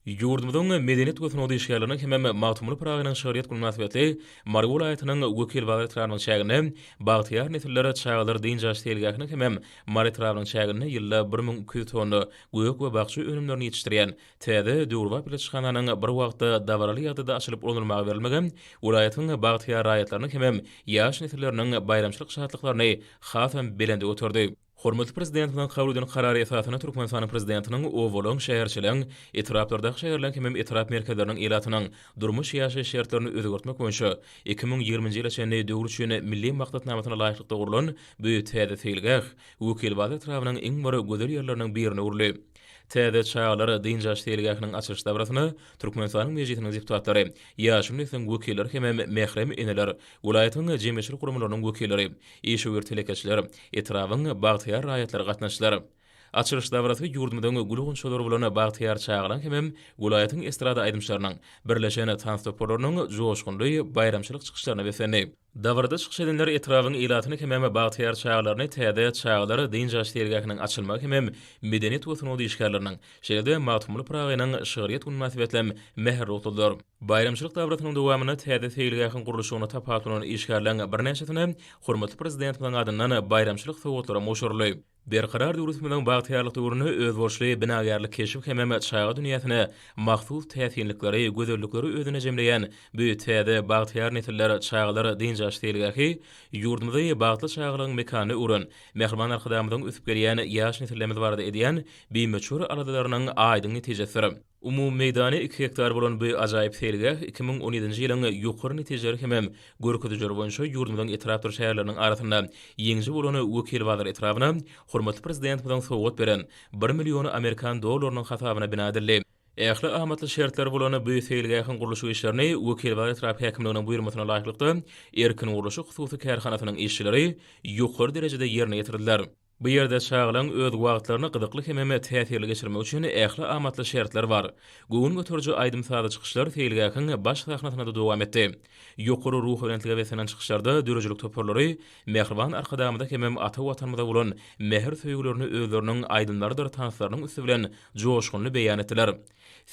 Ýurdumyzyň medeniýet we sungat işgärleriniň hemem Magtymguly Pyragynyň şygryýet güni mynasybetli Mary welaýatynyň Wekil bazar etrabynyň çäginde Bagtyýar nesiller çagalar dynç alyş seýilgähiniň hemem Mary etrabynyň çäginde ýylda bir müň iki ýüz tonna gök we bakja önümlerini ýetişdirýän täze döwrebap ilaçhananyň bir wagtda dabaraly ýagdaýda açylyp ulanylmaga berilmegi welaýatyň bagtyýar raýatlarynyň hemem ýaş nesilleriniň baýramçylyk şatlyklaryny hasam belende göterdi. Hormatly Prezidentimiziň kabul eden Karary esasynda Türkmenistanyň Prezidentiniň obalyň, şäherçeligiň, etraplardaky şäherleriň hemem etrap merkezleriniň ilatynyň durmuş-ýaşaýyş şertlerini özgertmek boýunça iki müň ýigriminji ýyla çenli döwür üçin Milli maksatnamasyna laýyklykda gurlan bu täze seýilgäh Wekilbaz etrabynyň iň bir gözel ýerleriniň birine öwrüldi. Täze çagalar dynç alyş seýilgähiniň açylyş dabrasyna Türkmenistanyň Mejlisiniň deputatlary, ýaşyl nesliň wekilleri hemem mährem eneler, welaýatyň jemgyýetçilik guramalarynyň wekilleri, Işewür telekeçiler, etrabyň bagtyýar raýatlary gatnaşdylar. Açylyş dabarasy ýurdumyzyň gül gonçalary bolan Bagtyýar çagalaň hemem welaýatyň estrada aýdymçylarynyň, birleşen tans toparlarynyň joşgunly baýramçylyk çykyşlaryna beslendi. Dabarada çykyş edenler etrabyň ilatyny hemem bagtyýar çagalaryny täze Çagalar dynç alyş seýilgähiniň açylmagy hemem medeniýet we sungat işgärleriniň, Şeýle-de Magtymguly Pyragynyň şygryýet güni mynasybetli mähir rugsadyr. Baýramçylyk dabarasynyň dowamynda täze seýilgähiň gurluşygyna tapaklanan işgärleriň birnäçesine hormatly Prezidentimiziň adyndan baýramçylyk sowgatlaram gowşuryldy. Berkarar döwletimiziň bagtyýarlyk döwründe özboluşly binagärlik keşbi hemem çaga dünýäsine mahsus täsinlikleri, gözellikleri özünde jemleýän bu täze bagtyýar nesiller çagalar dynç-alyş seýilgähi ýurdumyzy bagtly çagalygyň mekanyna öwren Mähriban Arkadagymyzyň ösüp gelýän ýaş nesillerimiz barada edýän bimeçhur aladalarynyň aýdyň netijesidir. Umumy meýdany iki gektar bolan bu ajaýyp seýilgäh iki müň on ýedinji ýylyň ýokary netijeleri hemem görkezijileri boýunça ýurdumyzyň etrapdyr şäherleriniň arasynda ýeňiji bolan Wekilbazar etrabyna hormatly Prezidentimiziň sowgat beren bir million amerikan dollarynyň hasabyna bina edildi. Ähli amatly şertleri bolan bu seýilgähiň gurluşyk işlerini Wekilbazar etrap häkimliginiň buýurmasyna laýyklykda Erkin gurluşyk hususy kärhanasynyň işçileri ýokary derejede ýerine ýetirdiler. Bu ýerde çagalaryň öz wagtlaryny gyzykly hemem täsirli geçirmegi üçin ähli amatly şertler bar. Göwün göteriji aýdym-sazly çykyşlar seýilgähiň baş sahnasynda-da dowam etdi. Ýokary ruhubelentlige beslenen çykyşlarda döredijilik toparlary mähriban Arkadagymyza hemem ata Watanymyza bolan mähir-söýgülerini özleriniň aýdymlarydyr tanslarynyň üsti bilen joşgunly beýan etdiler.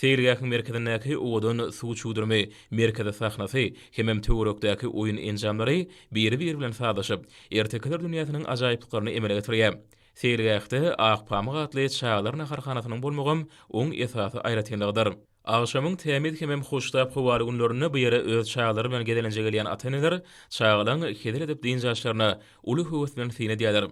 Seýilgähiň merkezindäki owadan suw çüwdürimi, merkezi sahnasy hemem töwerekdäki oýun enjamlary biri-biri bilen sazlaşyp, ertekiler dünýäsiniň ajaýyplyklaryny emele getirýär. Seýilgähde Ak pamyk atly çagalar naharhanasynyň bolmagam oň esasy aýratynlygydyr. Agşamyň tämiz hemem hoştap howaly günlerinde bu ýere öz çagalary bilen gezelenje gelýän ata-eneler çagalaň hezil edip dynç alyşlaryna uly höwes bilen syn edýärler.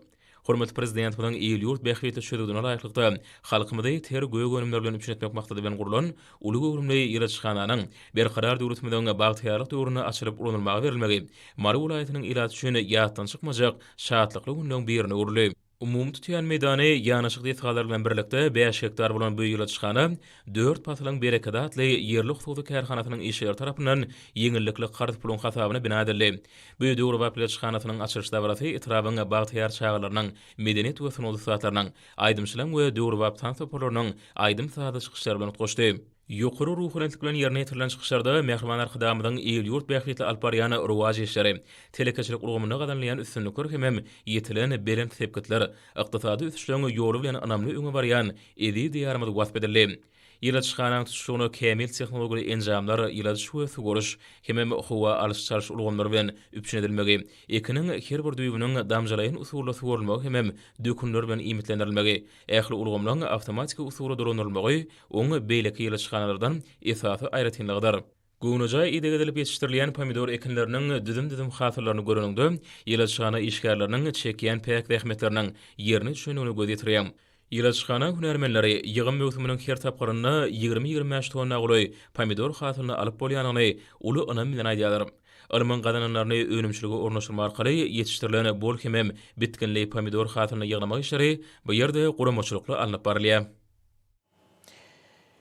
Hormatly Prezidentimiziň il-ýurt bähbitli çözgüdine laýyklykda, halkymyzy ter gök önümler bilen üpjün etmek maksady bilen gurlan uly göwrümli ilaçhananyň Berkarar döwletimiziň bagtyýarlyk döwründe açylyp ulanylmaga berilmegi Mary welaýatynyň ilaty üçin ýatdan çykmajak şatlykly günleň birine öwrüldi. Umumy tutýan meýdany ýanaşyk desgalar bilen birlikde bäş gektar bolan bu ilaçhana Dört pasylyň berekedi atly ýerli hususy kärhanasynyň işgäri tarapyndan ýeňillikli karz puluň hasabyna bina edildi. Bu döwrebap pleçhanasynyň açylyş dabarasy etrabyň bagtyýar çagalarynyň, medeniýet we sungat ussatlarynyň, aýdymçylaryň we döwrebap tans toparlarynyň aýdym-sazly çykyşlary bilen utgaşdy. Ýokary ruhubelentlik bilen ýerine ýetirilen çykyşlarda Mähriban Arkadagymyzyň il-ýurt bähbitli alyp barýan rowaç işleri, telekeçilik ulgamynda gazanylýan üstünlikler hemem ýetilen belent sepgitler, Ykdysady ösüşleň ýoly bilen ynamly öňe barýan eziz Diýarymyz wasp edildi. Ýyladyşhananyň tutuşlygyna kämil tehnologiýaly enjamlar, ýyladyş we suwaryş hemem howa alyş-çalyş ulgamlary bilen üpjün edilmegi, ekiniň her bir düýbüniň damjalaýyn usulda suwarylmagy hemem dökünler bilen iýmitlendirilmegi, ähli ulgamlaryň awtomatiki usulda dolandyrylmagy oň beýleki ýyladyşhanalardan esasy aýratynlygydyr. Göwnejaý ideg edilip ýetişdirilýän pomidor ekinleriniň düzüm-düzüm hasyllaryny göreniňde, ilaçhana işgärleriniň çekýän päk zähmetleriniň ýerine düşendigine göz ýetiriň. Ilaçhana hünärmenleri ýygym möwsüminiň her tapgyrynda ýigrimi-ýigrimi bäş tonna golaý pomidor hasylyny alyp bolýandygyny uly ynam bilen aýdýarlar. Ylmyň gazananlaryny önümçilige ornaşdyrmak arkaly ýetişdirilen bol hemem bitginli pomidor hasylyny ýygnamak işleri bu ýerde guramaçylykly alnyp barylýar.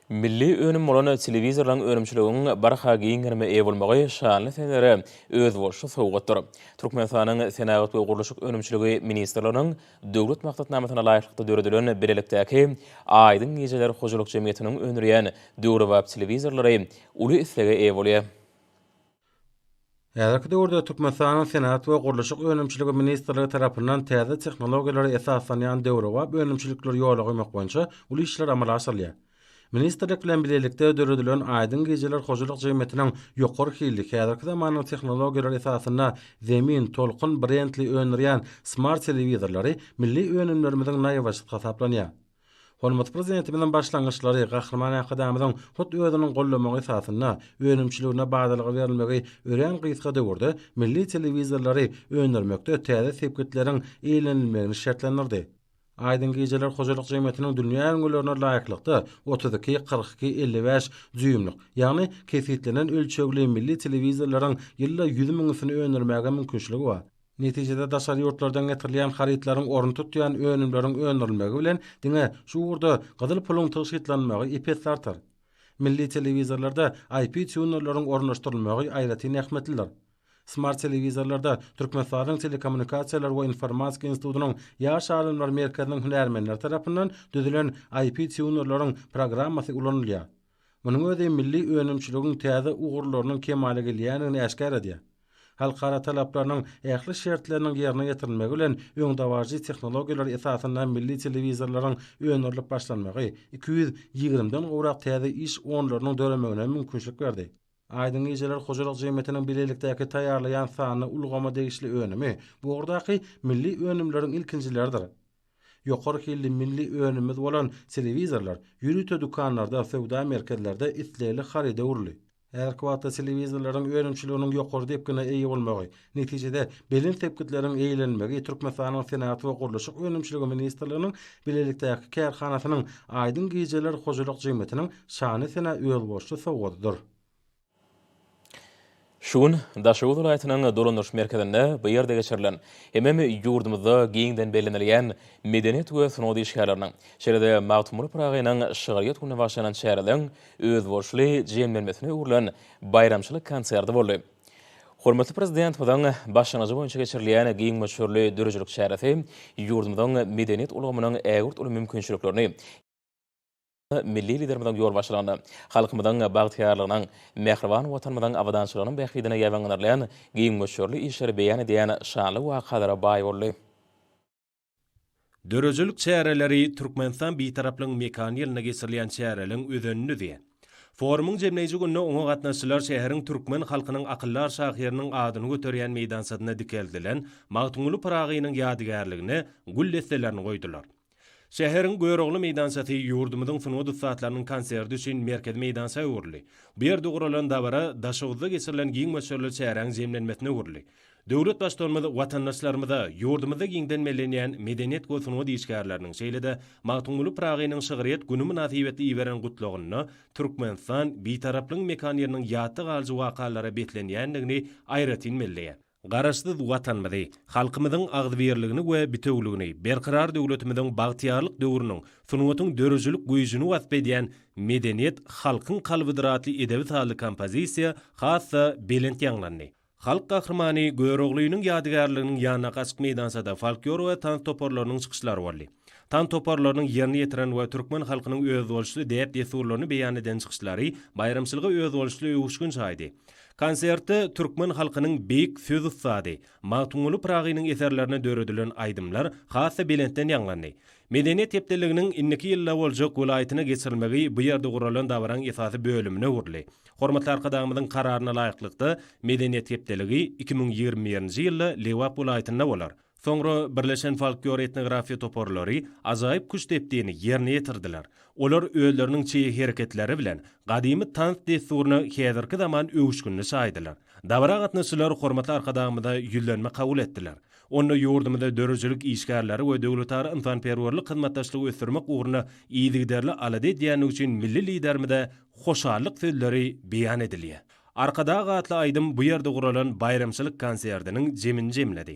Milli önüm bolan telewizorlaryň önümçiliginiň barha giň gerime eýe bolmagy şanly senelere özboluşly sowgatdyr. Türkmenistanyň Senagat we gurluşyk önümçiligi ministrliginiň Döwlet maksatnamasyna laýyklykda döredilen bilelikdäki Aýdyň gijeler hojalyk jemgyýetiniň öndürýän döwrebap telewizorlary uly islege eýe bolýar. Häzirki döwürde Türkmenistanyň Senagat we gurluşyk önümçiligi ministrligi tarapyndan täze tehnologiýalara esaslanýan döwrebap önümçilikleri ýola goýmak boýunça uly işler amala aşyrylýar. Ministrlik bilen bilelikde döredilen Aýdyň gijeler hojalyk jemgyýetiniň ýokary hilli, häzirki zamanyň tehnologiýalary esasynda Zemin, Tolkun brendli öndürýän smart telewizorlary milli önümlerimiziň naýbaşysy hasaplanýar. Hormatly Prezidentimiziň başlangyçlary Gahryman Arkadagymyzyň hut özüniň goldamagy esasynda önümçiligine badalga berilmegi örän gysga döwürde milli telewizorlary öndürmekde täze sepgitleriň eýlenilmegini şertlendirdi. Aýdyň gijeler hojalyk jemgyýetiniň dünýä ülňülerine laýyklykda otuz iki, kyrk iki, elli bäş dýuýmlyk, ýagny kesgitlenen ölçegli milli telewizorlaryň ýylda ýüz müňüsini öndürmäge mümkinçiligi bar. Netijede daşary ýurtlardan getirilýän harytlaryň ornuny tutýan önümleriň öndürilmegi bilen diňe şu ugurda gyzyl puluň tygşytlanmagy ep-esli artar. Milli telewizorlarda IP týunerleriň ornaşdyrylmagy aýratyn ähmiýetlidir. Smart telewizorlarda Türkmenistadyň Telekommunikasiýalar we informatika institutynyň Ýaş alymlar merkeziniň hünärmenleri tarapyndan düzülen IP týunerleriň programmasy ulanylýar. Munuň özi milli önümçiligiň täze ugurlarynyň kemala gelýändigini äşgär edýär. Halkara talaplarynyň ähli şertleriniň ýerine ýetirilmegi bilen öňdebaryjy tehnologiýalar esasynda milli telewizorlaryň öndürilip başlanmagy iki ýüz ýigrimi den gowrak täze iş onlarynyň döremegine mümkinçilik berdi. Aýdyň gijeler hojalyk jemgyýetiniň bilelikdäki taýýarlaýan sanly ulgama degişli önümi bu ugurdaky milli önümleriň ilkinjileridir. Ýokary hilli milli önümimiz bolan telewizorlar ýörite dükanlarda, söwda merkezlerde islegli haryda öwrüldi. Häzirki wagtda telewizorlaryň önümçiliginiň ýokary depgine eýe bolmagy, netijede, belent sepgitleriň eýlenilmegi Türkmenistanyň Senagat we gurluşyk önümçiligi ministrliginiň bilelikdäki kärhanasynyň Aýdyň gijeler hojalyk jemgyýetiniň şany-sena özboluşly sowgadydyr. Şu gün Daşoguz welaýatynyň dolandyryş merkezinde bu ýerde geçirilen hemem ýurdumyzda giňden bellenilýän medeniýet we sungat işgärleriniň, şeýle-de Magtymguly Pyragynyň şygryýet gününe bagyşlanan çäreden özboluşly jemlenmesine öwrülen baýramçylyk konserti boldy. Hormatly Prezidentimiziň başlangyjy boýunça geçirilýän giň möçberli döredijilik çäresi ýurdumyzyň medeniýet ulgamynyň ägirt uly mümkinçiliklerini, Milli Liderimiziň ýolbaşçylygynda halkymyzyň bagtyýarlygynyň, mähriban Watanymyzyň abadançylygynyň bähbidine ýaýbaňlanylýan giň möçberli işleri beýan edýän şanly wakalara baý boldy. Döredijilik çäreleri Türkmenistan Bitaraplygyň mekany ýylynda geçirilýän çäreleriň özenindidi. Forumyň jemleýji gününe oňa gatnaşyjylar şäheriň türkmen halkynyň akyldar şahyrynyň adyny göterýän meýdançasynda dikeldilen Magtymguly Pyragynyň ýadygärligine gül desselerini goýdular. Şäheriň Görogly meýdançasy ýurdumyzyň sungat ussatlarynyň konserti üçin merkezi meýdança öwrüldi. Bu ýerde guralan dabara Daşoguzda geçirilen giň möçberli çäräň jemlenmesine öwrüldi. Döwlet Baştutanymyz watandaşlarymyza ýurdumyzda giňden bellenýän medeniýet we sungat işgärleriniň, şeýle-de Magtymguly Pyragynyň şygryýet güni mynasybetli iberen Gutlagynda Türkmenistan Bitaraplygyň mekan ýeriniň ýatda galyjy wakalara beslenýändigini aýratyn belleýär. Garaşsyz Watanymyzy, halkymyzyň agzybirligini we bitewüligini, Berkarar döwletimiziň bagtyýarlyk döwrüniň sungatyň döredijilik güýjüni wasp edýän Medeniýet, halkyň kalbydyr atly edebi sazly kompozisiýa has-da belent ýaňlandy. Halk Gahrymany Göroglynyň ýadygärliginiň ýanyndaky açyk meýdançada folklor we tans toparlarynyň çykyşlary boldy. Tans toparlarynyň ýerine ýetiren we türkmen halkynyň özboluşly däp-dessurlaryny beýan eden çykyşlary baýramçylyga özboluşly öwüşgin çaýdy. Konsertde türkmen halkynyň beýik söz ussady Magtymguly Pyragynyň eserlerine döredilen aýdymlar has-da belentden ýaňlandy. Medeniýet hepdeliginiň indiki ýylda boljak welaýatyna geçirilmegi bu ýerde guralan dabaraň esasy bölümine öwrüldi. Hormatly Arkadagymyzyň Kararyna laýyklykda, Medeniýet hepdeligi iki müň ýigrimi birinji ýylda Lebap welaýatynda bolar. Soňra birleşen folklor-etnografiýa toparlary ajaýyp küştdepdini ýerine ýetirdiler. Olar özleriniň çeýe hereketleri bilen gadymy tans dessuryna häzirki zaman öwüşginini çaýdylar. Dabara gatnaşyjylar hormatly Arkadagymyza ýüzlenme kabul etdiler. Onda ýurdumyzda döredijilik işgärleri we döwletara ynsanperwerlik hyzmatdaşlygy ösdürmek ugrunda yzygiderli alada edýändigi üçin milli Liderimize hoşallyk sözleri beýan edilýär. Arkadag atly aýdym bu ýerde guralan baýramçylyk konserdiniň jemini jemledi.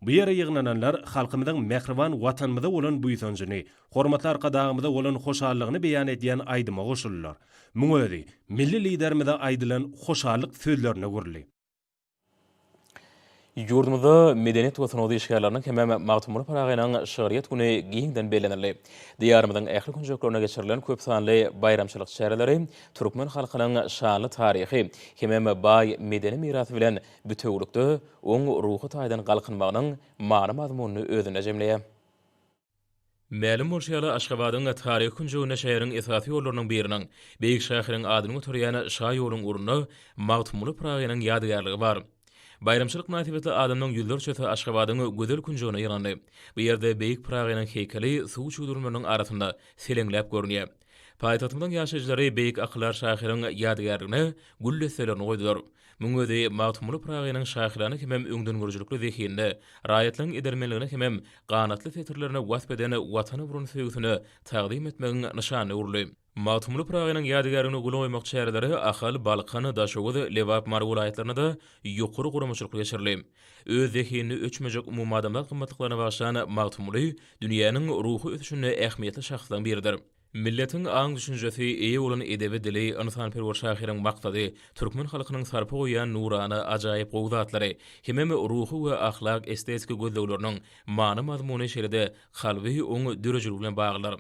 Bu ýere ýygnananlar halkymyzyň mähriban Watanymyza bolan buýsanjyny, hormatly Arkadagymyza bolan hoşallygyny beýan edýän aýdyma goşuldylar. Muň özi Milli Liderimize aýdylan hoşallyk sözlerine öwrüldi. Ýurdumyzda medeniýet we sungat işgärleriniň hemem Magtymguly Pyragynyň şygryýet güni giňden bellenildi. Diýarymyzyň ähli künjeklerinde geçirilen köp sanly baýramçylyk çäreleri türkmen halkynyň şanly taryhy hemem baý medeni mirasy bilen bitewülikde oň ruhy taýdan galkynmagynyň many-mazmunyny özünde jemleýär. Mälim bolşy ýaly, Aşgabadyň taryhy künjeginde şäheriň esasy ýollarynyň biriniň, beýik şahyryň adyny göterýän şaýoluň ugrunda Magtymguly Pyragynyň ýadygärligi bar. Baýramçylyk mynasybetli adamlaryň ýüzlerçesi Aşgabadyň gözel künjegine ýygnandy. Bu ýerde beýik Pyragynyň heýkeli suw çüwdürmelerini arasynda seleňläp görünýär. Paýtagtymyzyň ýaşaýjylary beýik akyldar şahyryň ýadygärligine gül desselerini goýdular. Muň özi Magtymguly Pyragynyň şahyrana hemem öňdengörüjilikli zehinine, raýatlygyň edermenligine hemem ganatly setirlerine wasp eden Watana bolan söýgüsini tagzym etmegiň nyşanyna öwrüldi. Magtymguly Pyragynyň ýadygärligine gül goýmak çäreleri Ahal, Balkan, Daşoguz, Lebap, Mary welaýatlarynda-da ýokary guramaçylykly geçirildi. Öz zehinini öçmejek umumadamzat gymmatlyklaryna bagyşlan Magtymguly dünýäniň ruhy ösüşinde ähmiýetli şahslaryň biridir. Milletiň aň-düşünjesi, eýe bolan edebi dili, ynsanperwer şahyryň maksady, türkmen halkynyň sarpa goýýan nurana, ajaýyp gowy zatlary, hemem ruhy we ahlak-estetiki gözlegleriniň many-mazmuny şeýle-de kalby oň döredijilik bilen baglydyr.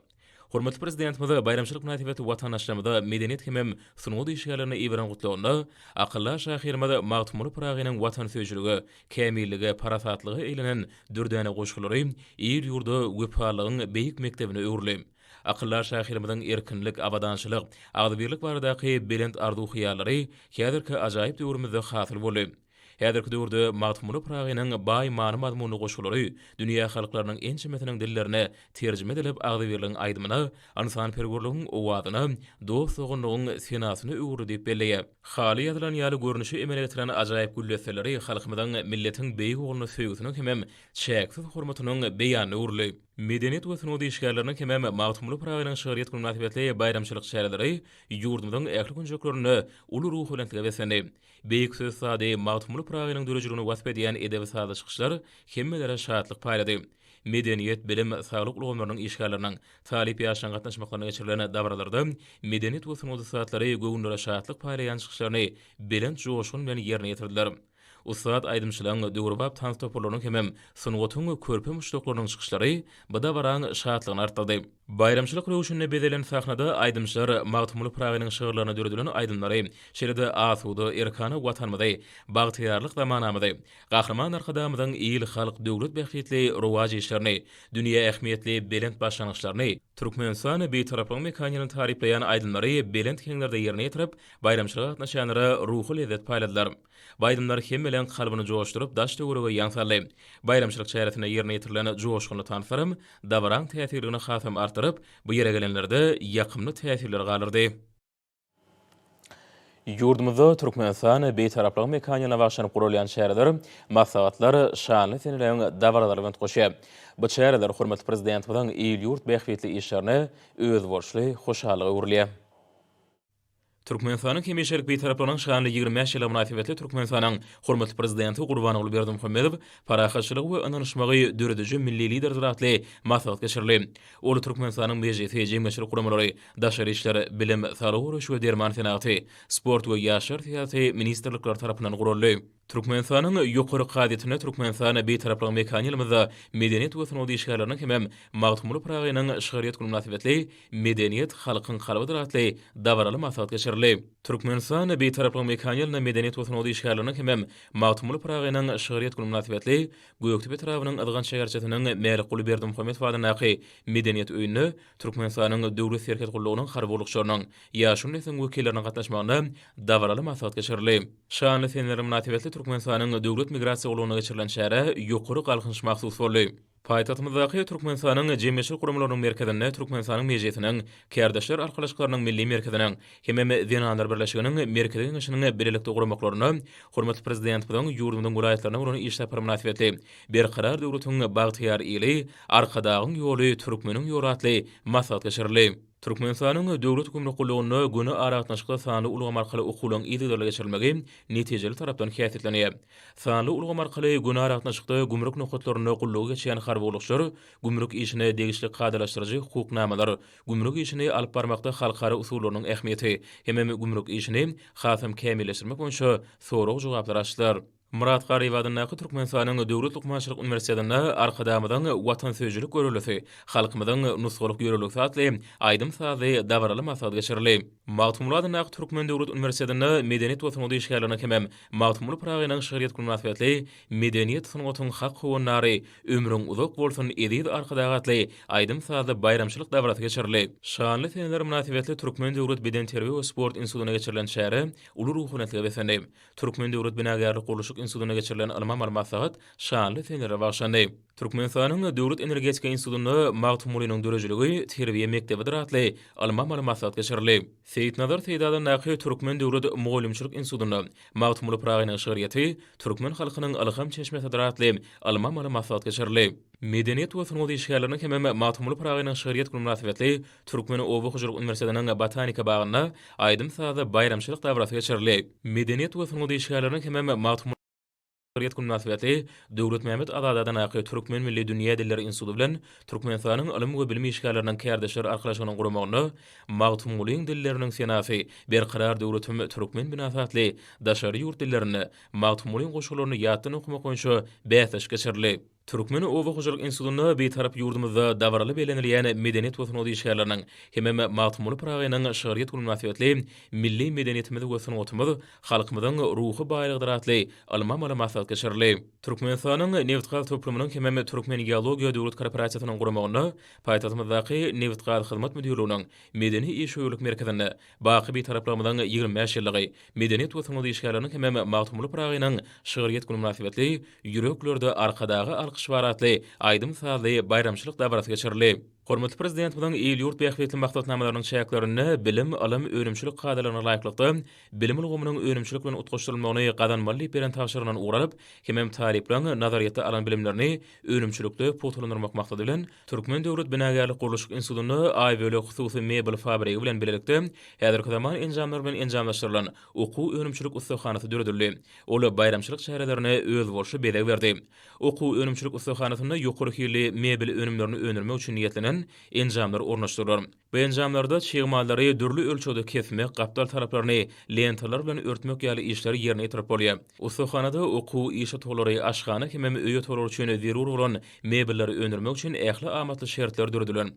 Hormatly Prezidentimiz baýramçylyk mynasybetli watandaşlarymyza medeniýet hemem sungat işgärlerine iberan gutlagynda akyldar şahyrymyz Magtymguly Pyragynyň watansöýüjilige, kämillige, parasatlyga eglenen dürdäne goşgulary il-ýurda wepalylygyň beýik mekdebine öwrüli. Akyldar şahyrymyzyň erkinlik, abadançylyk, agzybirlik baradaky belent arzuw-hyýallary häzirki ajaýyp döwrümizde hasyl boldy. Häzirki döwürde Magtymguly Pyragynyň baý many-mazmunly goşgulary dünýä halklarynyň ençemesiniň dillerine terjime edilip agzybirligiň aýdymyna, ynsanperwerligiň owazyna, dost-doganlygyň senasyna öwrüldi diýip belleýär. Haly ýazylan ýaly görnüşi emele getiren ajaýyp güldesseleri halkymyzyň milletiň beýik ogluna söýgüsiniň hemem çäksiz hormatynyň beýanyna öwrüldi. Medeniýet we sungat işgärleriniň hemem Magtymguly Pyragynyň şygryýet güni mynasybetli baýramçylyk çäreleri ýurdumyzyň ähli künjeklerinde uly ruhubelentlige beslendi. Beýik söz sady Magtymguly Pyragynyň döredijiligini wasp edýän edebi-sazly çykyşlar hemmelere şatlyk paýlady. Medeniýet, bilim, saglyk ulgamlarynyň işgärleriniň, talyp ýaşlaryň gatnaşmaklarynda geçirilen dabaralarda medeniýet we sungat ussatlary göwünlere şatlyk paýlaýan çykyşlaryny belent joşgun bilen ýerine ýetirdiler. Ussat aýdymçylaryň, döwrebap tans toparlarynyň hemem sungatyň körpe muşdaklarynyň çykyşlary bu dabaraň şatlygyny artdyrdy. Baýramçylyk röwşünine bezelen sahnada aýdymçylar Magtymguly Pyragynyň şygyrlaryna döredilen aýdymlary, şeýle-de asuda, erkana Watanymyzy, bagtyýarlyk zamanamyzy, Gahryman Arkadagymyzyň il, halk, döwlet bähbitli rowaç işlerini, dünýä ähmiýetli belent başlangyçlaryny, Türkmenistan, Bitaraplygyň mekanyny taryplaýan aýdymlary belent heňlerde ýerine ýetirip, baýramçylyga gatnaşanlara ruhy lezzet paýladylar. Baýramlar hemmeleriň kalbyny joşduryp, daş-töwerege ýaň saldy. Baýramçylyk çäresinde ýerine ýetirilen joşgunly tanslar dabaraň täsirligini hasam artdyryp, bu ýere gelenlerde ýakymly täsirler galdyrdy. Ýurdumyzda Türkmenistan Bitaraplygyň mekanyna bagyşlanyp guralýan çäreler, maslahatlar şanly seneleriň dabaralaryna üns goşýar. Bu çäreler hormatly Prezidentimiziň il-ýurt bähbitli işlerine özboluşly hoşallyga öwrülýär. Türkmenistanyň hemişelik Bitaraplaryň şanly ýigrimi bäş ýyly mynasybetli Türkmenistanyň hormatly Prezidenti Gurbanguly Berdimuhamedow Parahatçylygy we ynanyşmagy dörediji milli Liderdir atly maslahat geçirildi. Ol Türkmenistanyň Mejlisi, jemgyýetçilik guramalary, Daşary işler, Bilim, Saglygy goraýyş we derman senagaty, Sport we ýaşlar syýasaty ministrlikleri tarapyndan guraldy. Türkmenistanyň Ýokary kazyýetinde Türkmenistan Bitaraplygyň mekany ýylymyzda medeniýet we sungat işgärleriniň hemem Magtymguly Pyragynyň şygryýet güni mynasybetli Medeniýet, halkyň kalbydyr atly dabaraly maslahat geçirildi. Türkmenistan Bitaraplygyň mekany ýylynda medeniýet we sungat işgärleriniň hemem Magtymguly Pyragynyň şygryýet güni mynasybetli Gökdepe etrabynyň Yzgant şäherçesiniň Mälikguly Berdimuhamedow adyndaky Medeniýet öýünde Türkmenistanyň Döwlet serhet gullugynyň harby gullukçylarynyň, ýaşuly nesliň wekilleriniň gatnaşmagynda dabaraly maslahat geçirildi. Şanly seneler mynasybetli Türkmenistanyň Döwlet migrasiýa gullugynda geçirilen çärä ýokary galkynyş mahsus boldy. Paýtagtymyzdaky Türkmenistanyň jemgyýetçilik guramalarynyň merkezinde Türkmenistanyň Mejlisiniň, Kärdeşler arkalaşyklarynyň Milli merkeziniň hemem Zenanlar birleşiginiň Merkezi geňeşiniň bilelikde guramaklarynda hormatly Prezidentimiziň ýurdumyzyň welaýatlaryna bolan iş sapary mynasybetli Berkarar döwletiň bagtyýar ili, Arkadagyň ýoly, Türkmeniň ýoly atly maslahat geçirildi. Türkmenistanyň Döwlet gümrük gullugynda göni aragatnaşykly sanly ulgam arkaly okuwlaryň yzygiderli geçirilmegi netijeli tarapdan häsiýetlenýär. Sanly ulgam arkaly göni aragatnaşykda gümrük nokatlarynda gullugy geçýän harby gullukçylar gümrük işine degişli kadalaşdyryjy hukuk namalar, gümrük işini alyp barmakda halkara usullarynyň ähmiýeti hemem gümrük işini hasam kämilleşdirmek boýunça sorag-jogaplary açdylar. Myrat Garyp adyndaky Türkmenistanyň Döwlet lukmançylyk uniwersitetinde Arkadagymyzyň Watansöýüjilik göreldesi, halkymyzyň nusgalyk ýörelgesi atly aýdym-sazly dabaraly maslahat geçirildi. Magtymguly adyndaky Türkmen döwlet uniwersitetinde Medeniýet we sungat işgärleriniň hemem Magtymguly Pyragynyň şygryýet güni mynasybetli Medeniýet, sungatyň hak howandary, ömrüň uzak bolsun, eziz Arkadag! atly aýdym-sazly baýramçylyk dabarasy geçirildi. Şanly seneler mynasybetli Türkmen döwlet bedenterbiýe we sport institutynda geçirilen çäre uly ruhaniyetlige beslendi. Türkmen döwlet binagärlik-gurluşyk institutynda geçirilen ylmy-amaly maslahat şanly senelere bagyşlandy. Türkmenistanyň Döwlet energetika institutynda Magtymgulynyň döredijiligi terbiýe mekdebidir atly ylmy-amaly maslahat geçirildi. Seýitnazar Seýdadandaky Türkmen döwlet mugallymçylyk institutynda Magtymguly Pyragynyň şygryýeti türkmen halkynyň ylham çeşmesidir atly ylmy-amaly maslahat geçirildi. Medeniýet we sungat işgärleriniň hemem Magtymguly Pyragynyň şygryýet güni mynasybetli Türkmen oba hojalyk uniwersitetiniň botanika bagynda aýdym-sazly baýramçylyk dabarasy geçirildi. Medeniýet we sungat işgärleriniň hemem Magtymguly Pyragynyň döwlet güni mynasybetli Döwletmämmet Azadadanyň Türkmen milli dünýä dilleri instituty bilen Türkmenistanyň ylym we bilim işgärleriniň kärdeşler arkalaşygynyň guramagynda Magtymgulyň dilleriniň senasy, Berkarar döwletim, Türkmen binasy atly daşary ýurt dillerinde Magtymgulyň goşgularyny ýatdan okamak boýunça bäsleşik geçirildi. Türkmen oba hojalyk institutynda Bitarap ýurdumyzda dabaraly bellenilýän medeniýet we sungat işgärleriniň hemem Magtymguly Pyragynyň şygryýet güni mynasybetli Milli medeniýetimiz we sungatymyz halkymyzyň ruhy baýlygydyr atly ylmy-amaly maslahat geçirildi. Türkmenistanyň Nebitgaz toplumynyň hemem Türkmengeologiýa döwlet korporasiýasynyň guramagynda paýtagtymyzdaky Nebitgazhyzmat müdirliginiň Medeni-işewürlik merkezinde Baky Bitaraplarymyzyň ýigrimi bäş ýyllygy, medeniýet we sungat işgärleriniň hemem Magtymguly Pyragynyň şygryýet güni mynasybetli Ýüreklerde Arkadaga alkyş bar atly aýdym-sazly baýramçylyk dabarasy geçirildi. Hormatly Prezidentimiziň il-ýurt bähbitli maksatnamalarynyň çäklerinde bilim, ylym, önümçilik kadalaryna laýyklykda bilim ulgamynyň önümçilik bilen utgaşdyrylmagyny gazanmaly diýip beren tabşyrygyndan ugur alyp, hemem talyplaryň nazaryýetde alan bilimlerini önümçilikde pugtalandyrmak maksady bilen, Türkmen döwlet binagärlik-gurluşyk institutynda Aýbölek hususy mebel fabrigi bilen bilelikde häzirki zaman enjamlary bilen enjamlaşdyrylan okuw-önümçilik ussahanasy döredildi. Ol baýramçylyk çärelerine özboluşly bezeg berdi. Okuw-önümçilik ussahanasynda ýokary hilli mebel önümlerini öndürmek üçin niýetlenen enjamlar ornaşdyrylar. Bu enjamlarda çig mallary dürli ölçegde kesmek, gapdal taraplaryny lentalar bilen örtmek ýaly işleri ýerine ýetirip bolýar. Ussahanada okuw, iş otaglary, aşhana hemem öý otaglar üçin zerur bolan mebelleri öndürmek üçin ähli amatly şertler döredilen.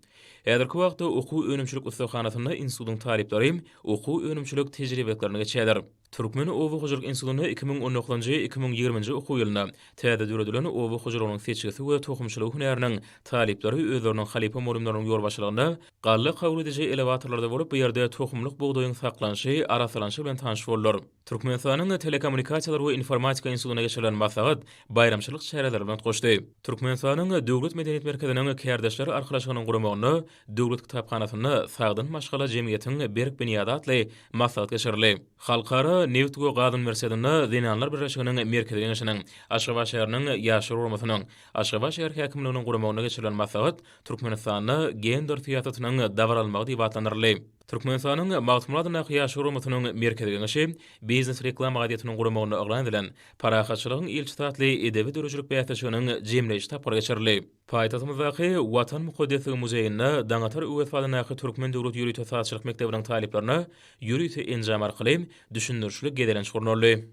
Häzirki wagtda okuw-önümçilik ussahanasynda institutyň talyplary okuw-önümçilik tejribeliklaryny geçýärler. Türkmen oba hojalyk institutynda iki müň on dokuzynjy, iki müň ýigriminji okuw ýylynda täze döredilen oba hojalygynyň seçgisi we tohumçylygy hünäriniň talyplary özleriniň halypa mugallymlarynyň ýolbaşçylygynda galla kabul ediji elewatorlarda bolup, bu ýerde tohumlyk bugdaýyň saklanyşy, arassalanyşy bilen tanyş boldular. Türkmenistanyň Telekommunikasiýalar we informatika institutynda geçirilen maslahat baýramçylyk çäreleri bilen utgaşdy. Türkmenistanyň Döwlet medeniýet merkeziniň Kärdeşler arkalaşygynyň guramagynda Döwlet kitaphanasynda Sagdyn maşgala jemgyýetiň berk binýady atly maslahat geçirildi. Halkara nebit we gaz uniwersitetinde Zenanlar birleşiginiň Merkezi Geňeşiniň, Aşgabat şäheriniň Ýaşlar guramasynyn, Aşgabat şäher häkimliginiň guramagynda geçirilen maslahat Türkmenistanda gender syýasatynyň dabaralmagy diýip atlandyryldy. Türkmenistanyň Magtymguladyndaky Ýaşlar guramasynyň Merkezi Geňeşi Biznes reklama gazetiň guramagynda yglan edilen Parahatçylygyň ilçisi atly edebi döredijilik bäsleşiginiň jemleýji tapgyry geçirildi. Paýtagtymyzdaky Watan mukaddesligiň muzeýinde Daňatar Öwez adyndaky Türkmen döwlet ýörite sazçylyk mekdebiniň talyplaryna ýörite enjam arkaly düşündirişli gezelenç gurnaldy.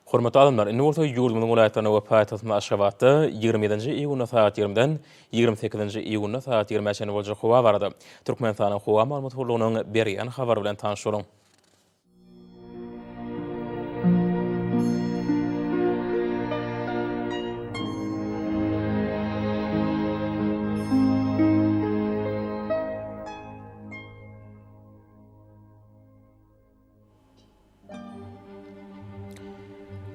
Hormatly adamlar, indi bolsa ýurdumyzyň welaýatlarynda we paýtagtymyz Aşgabatda ýigrimi ýedinji iýunda sagat ýigrimiden ýigrimi sekizinji iýunda sagat ýigrimä çenli boljak howa barada Türkmenistanyň Howa maglumat gullugynyň berýän habary bilen tanyş boluň.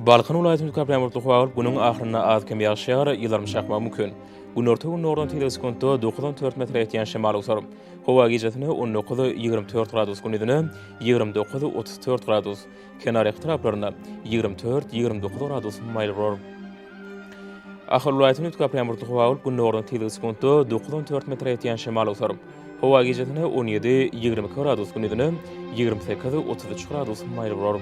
Balkan welaýatynda üç gün bulutly howa bolup, günüň ahyrynda az-kem ýagyş ýagar, ýyldyrym çakmagy mümkin. Günorta gündogardan tizligi sekuntda dokuz-on dört metre ýetýän şemal eser. Howa gije ýetende on dokuz, ýigrimi dört gradus, günuzynda, Ýigrimi dokuz, otuz dört gradus. Kenar etraplarynda ýigrimi dört, ýigrimi dokuz gradus maýyl bolar. Ahal welaýatynyň üst gapylan burdy howa bolup, gündogardan tizligi sekuntda dokuz, on dört metre ýetýän şemal awsar. Howa gijesi on ýedi, ýigrimi iki gradus, gündizine ýigrimi sekiz, otuz üç gradus maýyl bolar.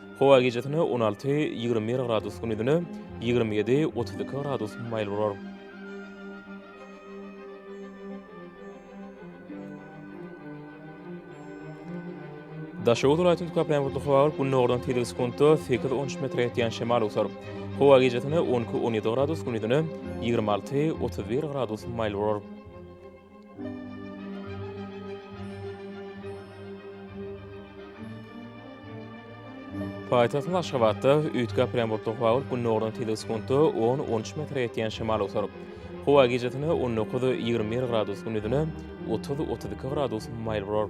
Howa gijesine on alty, ýigrimi bir gradus gündizine ýigrimi ýedi, otuz iki gradus maýyl bolar. Daşoguz welaýatynyň köplenç bulutly howa bolup, gündogardan tizligi sekuntda sekiz on üç metre ýetýän şemal öwser. Howa gijesine on iki, on ýedi gradus, gündizine ýigrimi alty, otuz bir gradus maýyl bolar. Paýtagtymyz Aşgabatda üýtgäp ýagan bulutly howa bolup, gündogardan tizligi sekuntda on, on üç metre ýetýän şemal olar. Howa gijesi on dokuz, ýigrimi bir gradus, gündizine otuz, otuz iki gradus maýyl bolar.